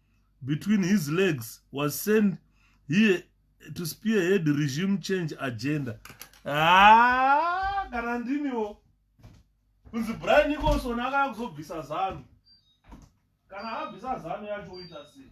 between his legs was sent here to spearhead regime change agenda ah, kana ndimiwo kunzi brian nicholson akaya kuzobvisa zanu kana abvisa zanu yacho oita sei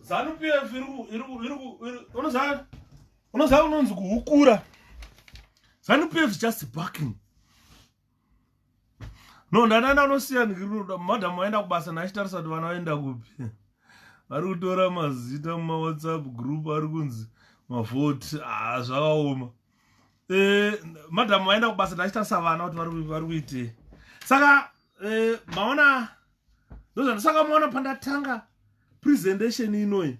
Zanu PF unoziva unonzi kuhukura Zanu PF just backing no ndanana anosiya ndikiruda madam aenda kubasa naachitarisa kuti vana vaenda kupi vari kutora mazita mumawhatsapp group ari kunzi mavhoti ah, zvakaoma eh, madam vaenda kubasa ndachitarisa vana kuti vari kuitei saka eh, maona ndozvandisaka maona pandatanga presentation inoyi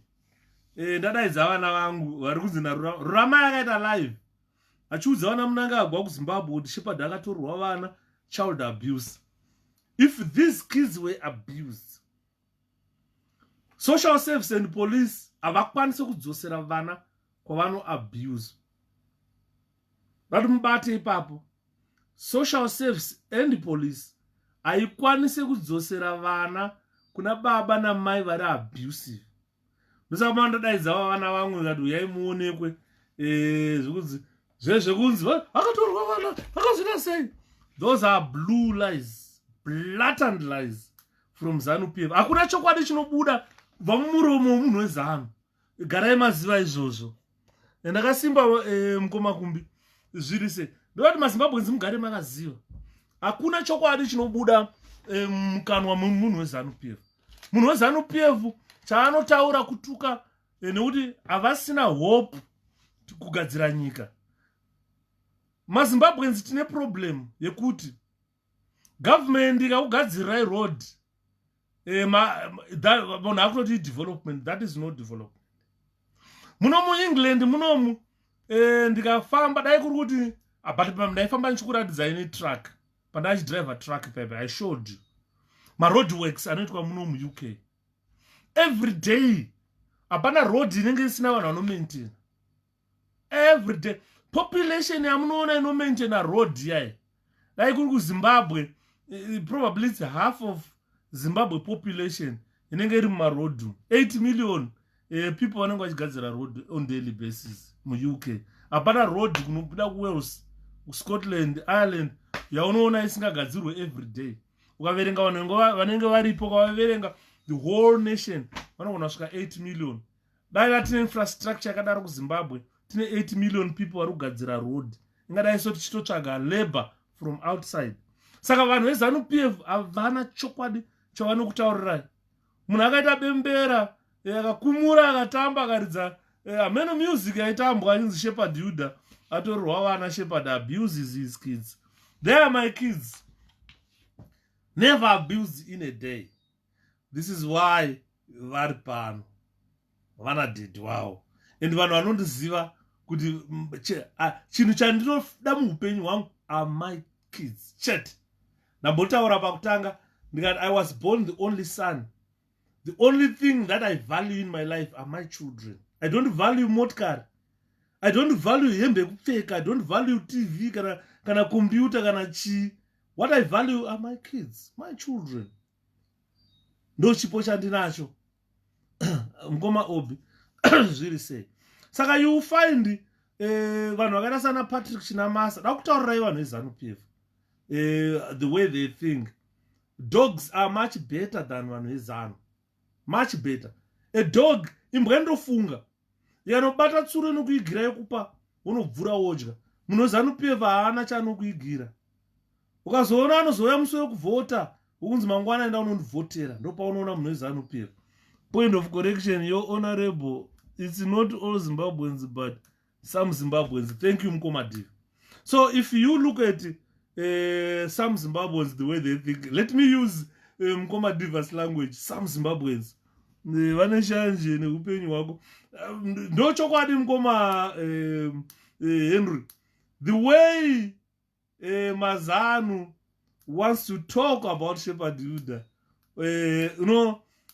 eh, ndadaidza vana vangu vari kunzi naruramai akaita live achiudza vana munangagwa kuzimbabwe kuti shepard akatorwa vana child abuse if these kids were abused social service and police havakwanise kudzosera vana kwavano abuse vati mubate ipapo social service and police haikwanise kudzosera vana kuna baba namai vari abusive musakuma ndadaidzavo vana vamwe kati uyai muonekwe eh, zvekunzi zvezvekunzi vakatorwa vana vakazvina sei those are blue lies blatant lies from zanu p f hakuna chokwadi chinobuda kubva mumuromo wemunhu wezanu garai maziva izvozvo and akasimba eh, mukoma kumbi zviri se ndoda kuti mazimbabwenzi mugare makaziva hakuna chokwadi chinobuda eh, mukanwa eh, memunhu wezanu p f munhu wezanu p f chaanotaura kutuka eh, nekuti havasina hope kugadzira nyika mazimbabwenzi tine problem yekuti government ikakugadzirirai road eh, munhu akunoti idevelopment that is no development muno muengland munomu eh, ndikafamba dai kuri kuti ah, but ndaifamba ndichikuratidzai netruck pandaichidrive truck pepe i showed you maroad works anoitwa muno muuk every day hapana road inenge isina vanhu vanomaintaina everyday population yamunoona inomaintaina road yaye dai kuri kuzimbabwe eh, probably its half of zimbabwe population inenge iri mumaroad 8 million eh, people vanenge vachigadzira road on daily basis muuk hapana road kunobuda kuwales scotland ireland yaunoona isingagadzirwe every day ukaverenga vanhu vanenge varipo ukavaverenga the whole nation vanogona svika 8 million dai vatine infrastructure yakadaro kuzimbabwe tine 8 million people vari kugadzira road ingadai so tichitotsvaga labor from outside saka vanhu vezanu p f havana chokwadi chavanokutaurirai munhu akaita bembera eh, akakumura akatamba akaridza eh, ameno music yaitambwa inzi shepherd yuda atorwa vana shepherd abuses his kids there are my kids never abused in a day this is why vari pano vana dedi wavo and vanhu vanondiziva kuti chinhu chandinoda muupenyu hwangu are my kids chete ndambotaura pakutanga ndikati i was born the only son the only thing that i value in my life are my children i don't value motkar i don't value hembe yekupfeka i don't value tv kana kana computer kana chii what i value are my kids my children ndo chipo chandinacho mukoma obi zviri sei saka you find eh, vanhu vakaita sana patrick chinamasa da kutaurirai vanhu vezanup f eh, the way they think dogs are much better than vanhu vezanu much better a dog imbwa inotofunga yanobata tsuro inokuigira yokupa wonobvura wodya munhu wezanupf haana chaanokuigira ukazoona anozouya musi wekuvhota ukunzi mangwana enda unondivhotera ndopaunoona munhu wezanupf point of correction yo honorable it's not all zimbabweans but some zimbabweans thank you mukomadivi so if you look at uh, some zimbabweans the way they think let me use eh, mkoma um, divers language some zimbabweans eh, vane shanje neupenyu hwako um, ndo chokwadi mkoma um, uh, henry the way uh, mazanu wants to talk about shepherd yuda uh, eh, you know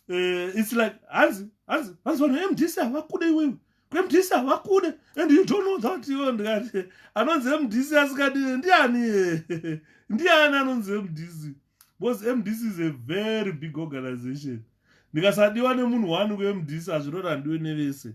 uh, it's like hanzi hanzi hanzi vanhu vemdc havakude iwewe kwemdc havakude and you don't know that iwe ndikati anonzi mdc asikadi ndiani ndiani anonzi mdc because mdc is a very big organization ndikasadiwa nemunhu wani kumdc hazvirora ndiwe nevese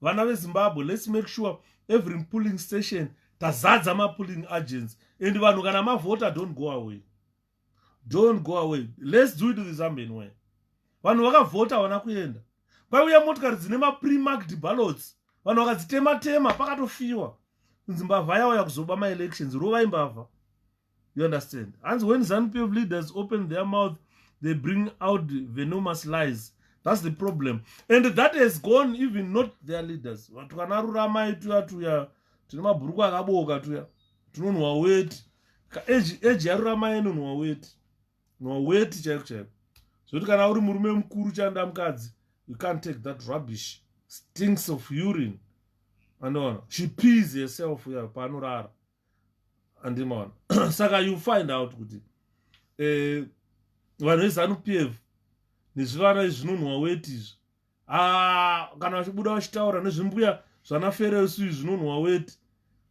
vana vezimbabwe lets make sure every pulling station tazadza mapulling agents and vanhu kana mavhota don't go away don't go away lets do it the zambian way vanhu vakavhota havana kuenda kwaiuya motikari dzine mapremarked ballots vanhu vakadzitema tema pakatofiwa kunzi mbavha yauya kuzoba maelections rovai mbavha you understand hanzi when zanu pf leaders open their mouth they bring out venomous lies that's the problem and that has gone even not their leaders vatu kana ruramai tuya tuya tine mabhuruku akabooka tuya tinonhuwa weti eji yaruramai inonhuwa weti nhuwa weti chaiko chaiko zvekuti kana uri murume mukuru chanda mukadzi you can't take that rubbish stinks of urine anoona she pees herself ya paanorara andimaona saka you find out kuti eh, vanhu vezanup f nezvivana izvinonhuwa weti izvi ah, kana vachibuda vachitaura nezvimbuya zvana feresu izvi zvinonhuwa weti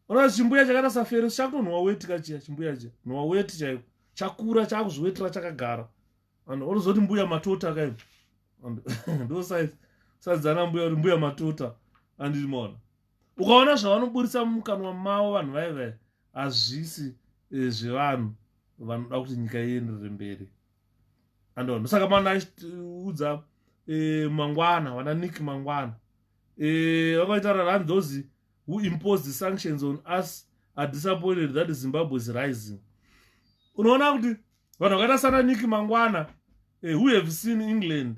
ona chimbuya chakaita saferesu chakutonhuwa weti kachiya chimbuya chiya nhuwa weti chaiko chakura chakuzviwetera chakagara and orozoti mbuya matota kaio ndosaizi saizi ana mbuya kuti mbuya matota andiri maona ukaona zvavanoburitsa mumukanwa mavo vanhu vaive hazvisi eh, zvevanhu vanoda kuti nyika ienderere mberi andona saka mana achiudza eh, mangwana vana nick mangwana eh, vakaita rarani those who imposed the sanctions on us are disappointed that zimbabwe is rising unoona kuti vanhu vakaita sana nick mangwana who have seen england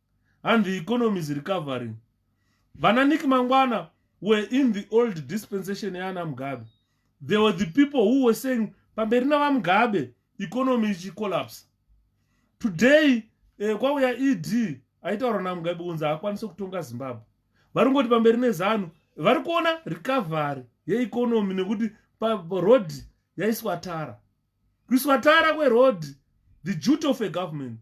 and the economy is recovering vana nick mangwana were in the old dispensation yaana mugabe they were the people who were saying pamberi navamugabe economy ichicollapse today eh, kwauya ed aitaura namugabe kunzi haakwanise kutonga zimbabwe vari kungoti pamberi nezanu vari kuona recovery yeeconomy nekuti paroad yaiswa tara kuiswa tara kweroad the duty of a government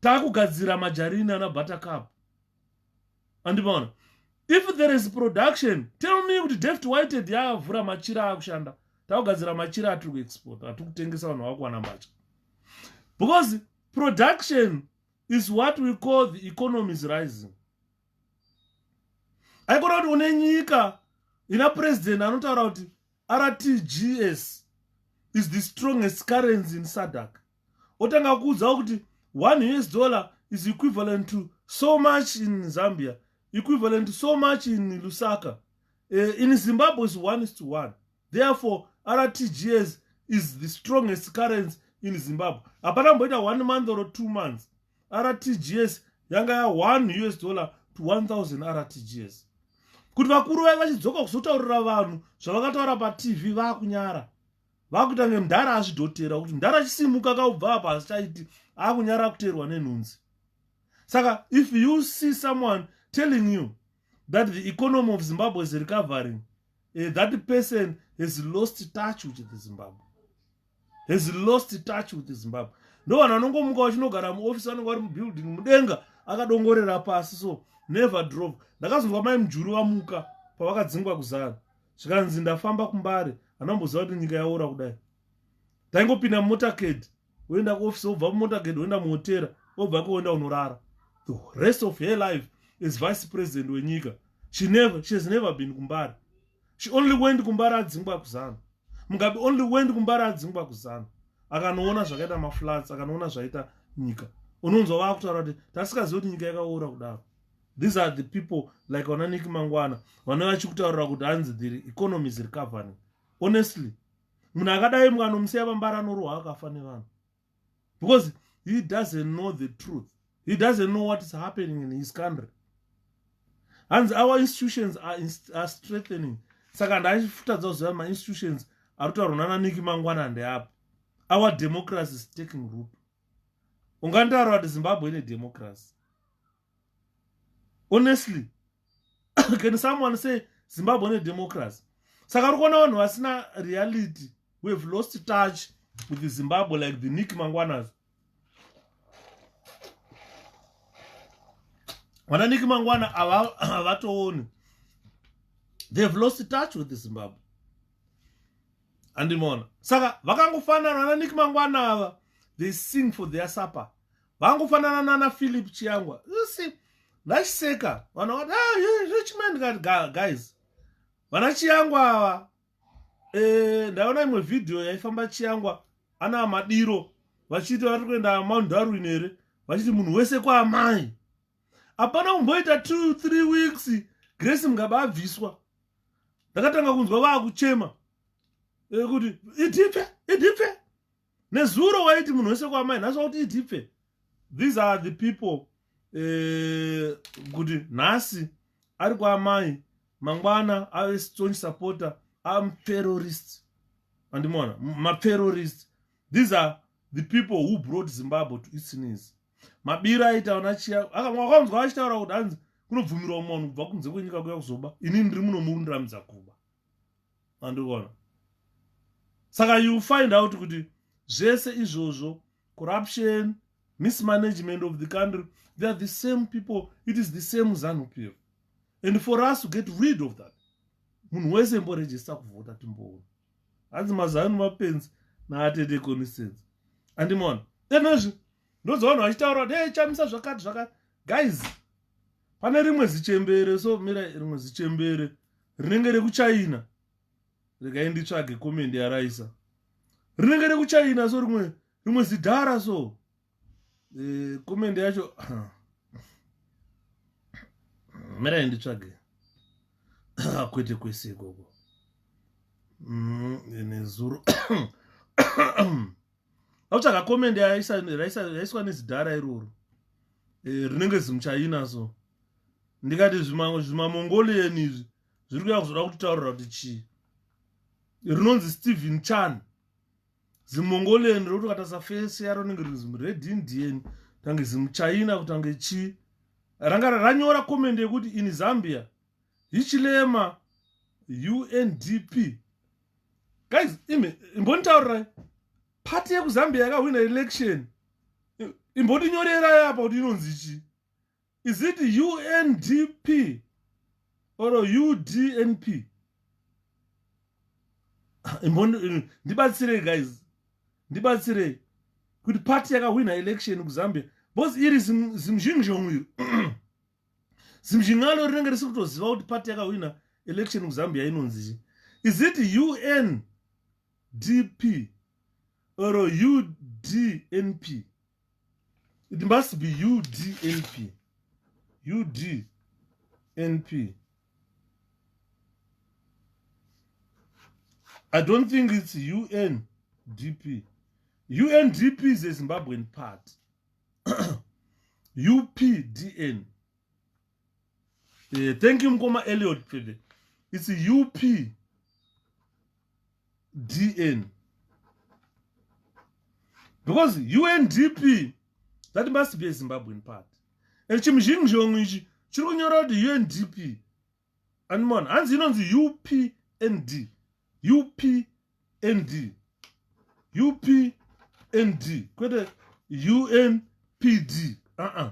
takugadzira majarini ana buttercup andimaona if there is production tell me kuti deft whited yavhura machira akushanda takugadzira machira atiri kuexport atiri kutengesa vanhu vakuwana mbatya because production is what we call the economy is rising aikona kuti une nyika ina president anotaura kuti rtgs is the strongest currency in sadak otanga kuudzawo kuti one us dollar is equivalent to so much in zambia equivalent to so much in lusaka uh, in zimbabwe is one is to one therefore rtgs is the strongest currency in zimbabwe hapana mboita one month or two months rtgs yanga ya one us dollar to 1000 rtgs kuti vakuru vave vachidzoka kuzotaurira vanhu zvavakataura patv vakunyara vakuita kunge mdhara azvidhotera kuti mdhara achisimuka kaubva apa hazichaiti akunyara kuteerwa nenhunzi saka if you see someone telling you that the economy of zimbabwe is recovering uh, that person has lost touch with the zimbabwe has lost touch with the zimbabwe ndo vanhu vanongomuka vachinogara muofisi vanenge vari mubuilding mudenga akadongorera pasi so never drove ndakazonzwa mai mujuru vamuka pavakadzingwa kuzana zvikanzi ndafamba kumbare anamboziva kuti nyika yaora kudai taingopinda mumotaked woenda kuoffice wobva mumotaked woenda muhotera wobva ko woenda unorara the rest of her life is vice president wenyika she never she has never been kumbare she only went kumbare adzingwa kuzana mugabe only went kumbare adzingwa kuzana akanoona zvakaita maflats akanoona zvaita nyika unonzwa vakutaura kuti tasikazivi kuti nyika yakaora kudaro these are the people like vana niki mangwana vanova vachikutaurira kuti hanzi the economy is recovering honestly munhu akadai mwana omusiya vambara anorohwa akafa nevanhu because he doesn't know the truth he doesn't know what is happening in his country hanzi our institutions are, inst are strengthening saka ndaifutadza kuziva mainstitutions ari kutaurwa nana niki mangwana ndeapo our democracy is taking root ungandaura kuti zimbabwe ine democracy honestly can someone say zimbabwe ne democracy saka uri kuona vanhu vasina reality we have lost touch with the zimbabwe like the nick mangwanas vana nick mangwana havatooni they have lost touch with the zimbabwe andimona saka vakangofanana vana nick mangwana ava they sing for their supper vangofanana nana philip chiyangwa usi ndachiseka vana vati ah, rich man ndikati guys vana chiyangwa ava e, ndaona imwe vhidhiyo yaifamba chiyangwa ana madiro vachiti vari kuenda mount darwin here vachiti munhu wese kwaamai hapana kumboita two three weeks grace mugabe abviswa ndakatanga kunzwa vaakuchema e, kuti idipfe idipfe nezuro waiti munhu wese kwamai nhasi wakuti itipfe these are the people eh, kuti uh, nhasi ari kwaamai mangwana ave strong supporter am terrorist andimona materrorist these are the people who brought zimbabwe to its knees mabiro aita ona chiya akawanzwa achitaura kuti hanzi kunobvumirwa munhu kubva kunze kwenyika kuya kuzoba ini ndiri muno murundiramidza kuba andikuona saka you find out kuti zvese izvozvo corruption mismanagement of the country they are the same people it is the same zanupf and for us to get rid of that munhu wese imborejista kuvhota timboona hanzi mazanu mapenzi naatete consistency andimona enozvi ndozoona vachitaura kuti hey chamisa zvakati zvakati guys pane rimwe zichembere so mira rimwe zichembere rinenge rekuchina regai nditsvage komendi yaraisa rinenge rekuchina so rimwe rimwe zidhara so eh, komendi yacho mirai nditsvage kwete kwese ikoko mm, nezuro autsvaga comment yaiswa nezidhara iroro eh, rinenge zimuchaina so ndikati zvimamongolian izvi zviri kuya kuzoda kutitaurira kuti chii rinonzi stephen chan zimongolian rokuti katasa fese yaro rinenge rinzi mured indian tange zimuchaina kutange chii ranga ranyora comment yekuti in zambia hichilema undp guys imi imbonitaurirai pati yekuzambia yakahwina election imbondinyorerai apa kuti inonzi chii is it undp or udnp ndibatsirei guys ndibatsirei kuti party yakahwina election kuzambia bcause iri zimuzhinji zvomwiri zimzhin'alo rinenge risi kutoziva kuti pati yakahwina election kuzambia inonzichi is it un dp or udnp it must be udnp udnp i don't think its un dp undp is a zimbabwean party updn eh, thank you mkoma eliot pede it's updn because undp that must be a zimbabwean party and chimuzhinji chomwe ichi chiri kunyora kuti undp animan hanzi inonzi upnd upnd upnd kwete unpd uh -uh.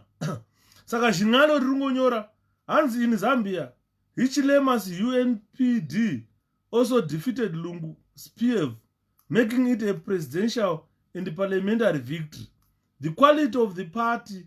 saka zvin'ano riri ngonyora hanzi in zambia hichilemas unpd also defeated lungu spiev making it a presidential and parliamentary victory the quality of the party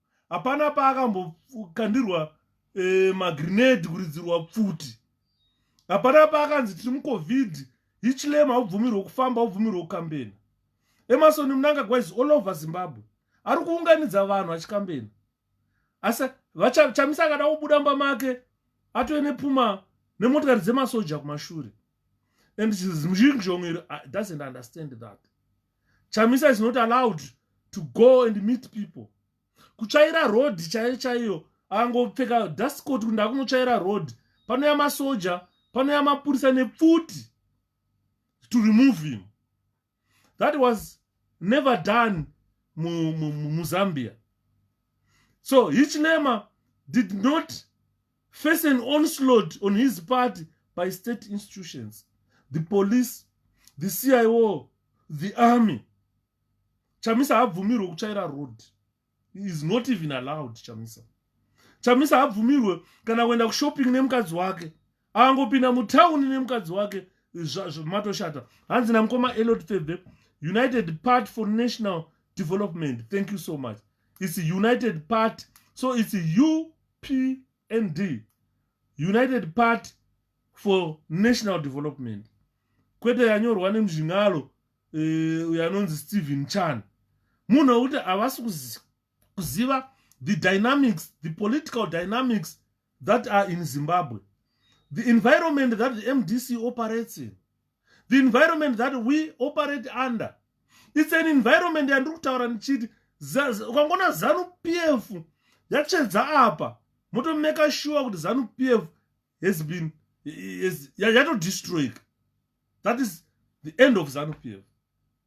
hapana paakambokandirwa eh, magrenade kuridzirwa pfuti hapana paakanzi tiri mucovid hichlem haubvumirwe kufamba ubvumirwe kukambena emasoni munangagwa is all over zimbabwe ari kuunganidza vanhu achikambena asi vachamisa akada kubuda mba make atove nepuma nemotikari dzemasoja kumashure and zhizhongeri ah, doesn't understand that chamisa is not allowed to go and meet people kutsvaira road chaiyo chaiyo angopfeka dustcot kuti ndakunotsvaira road panouya masoja panouya mapurisa nepfuti to remove him that was never done muzambia so hichinema did not face an onslaught on his party by state institutions the police the cio the army chamisa haabvumirwe kutsvaira road is not even allowed chamisa chamisa haabvumirwe kana kuenda kushopping nemukadzi wake angopinda mutauni nemukadzi wake matoshata hanzi namukoma elot thebe united part for national development thank you so much its united part so its u pnd united party for national development kwete yanyorwa nemuzvin'alo eh, uyo anonzi stephen chan munhu wekuti havasi kuziva the dynamics the political dynamics that are in zimbabwe the environment that mdc operates in the environment that we operate under its an environment yandiri kutaura ndichiti ukangoona zanu p f yatsvedza apa motomeka sure kuti zanu p f has been yatodestroyika that is the end of zanu p f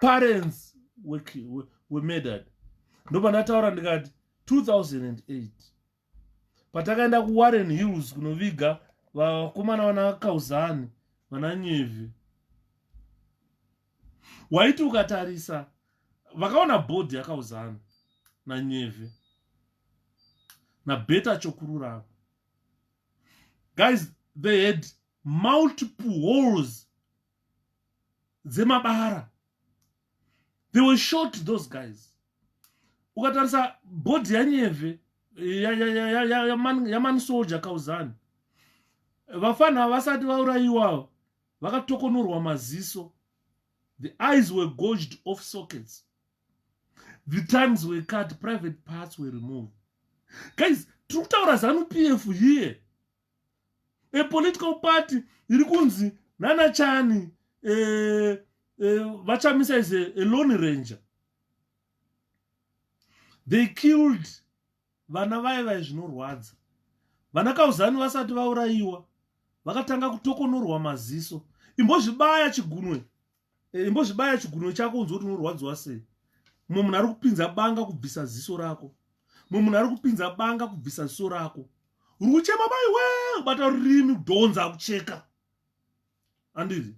parents wemedad ndopanataura ndikati 2008 patakaenda kuwarren hills kunoviga vakomana vana kauzani vana nyevhi waiti ukatarisa vakaona bhodhi yakauzana nanyevhe nabeta chokururama guys they had multiple holes dzemabara they were short those guys ukatarisa bhodhi yanyeve yamani soldier kauzani vafana vasati vaurayiwawo vakatokonurwa maziso the eyes were gorged off sockets the tongues were cut private parts were removed guys tiri kutaura zanu p f here a political party iri kunzi nana chani eh, eh, vachamisa is a, a lone ranger they killed vana vaye vaye zvinorwadza vana kauzani vasati vaurayiwa vakatanga kutokonorwa maziso imbozvibaya chigunwe Eh, imbozvibaya chigunwe chako unzwe kuti unorwadziwa sei mumwe munhu ari kupinza banga kubvisa ziso rako mumwe munhu ari kupinza banga kubvisa ziso rako uri kuchema mai we ubata rurimi kudhonza akucheka andiri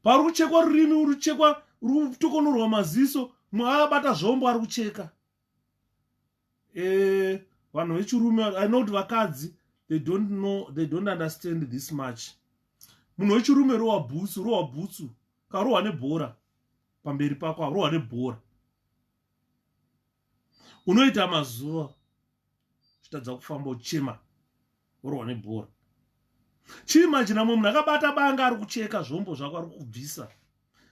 pauri kuchekwa rurimi uri kuchekwa uri kutokonorwa maziso mwe abata zvombo ari kucheka eh, vanhu e, vechirume i know kuti vakadzi they don't know they don't understand this much munhu wechirume rowa bhutsu rowa bhutsu karohwa nebhora pamberi pako arohwa nebhora unoita mazuva uchitadza kufamba uchema orohwa nebhora chii manje namwe munhu akabata banga ari kucheka zvombo zvako ari kubvisa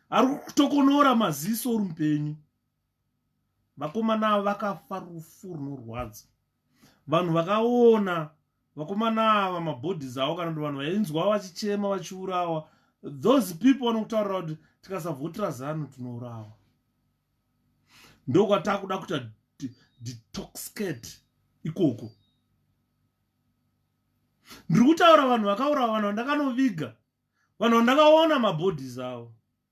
ari kutokonora maziso uri mupenyu vakomana ava vakafa rufu runorwadza vanhu vakaona vakomana ava mabodies avo kana kuti vanhu vainzwa vachichema vachiurawa those people vanokutaurira kuti tikasavhotera zanu tinourawa ndokwatakuda kuita detoxcate ikoko ndiri kutaura vanhu vakaurawa vanhu vandakanoviga vanhu vandakaona mabodies avo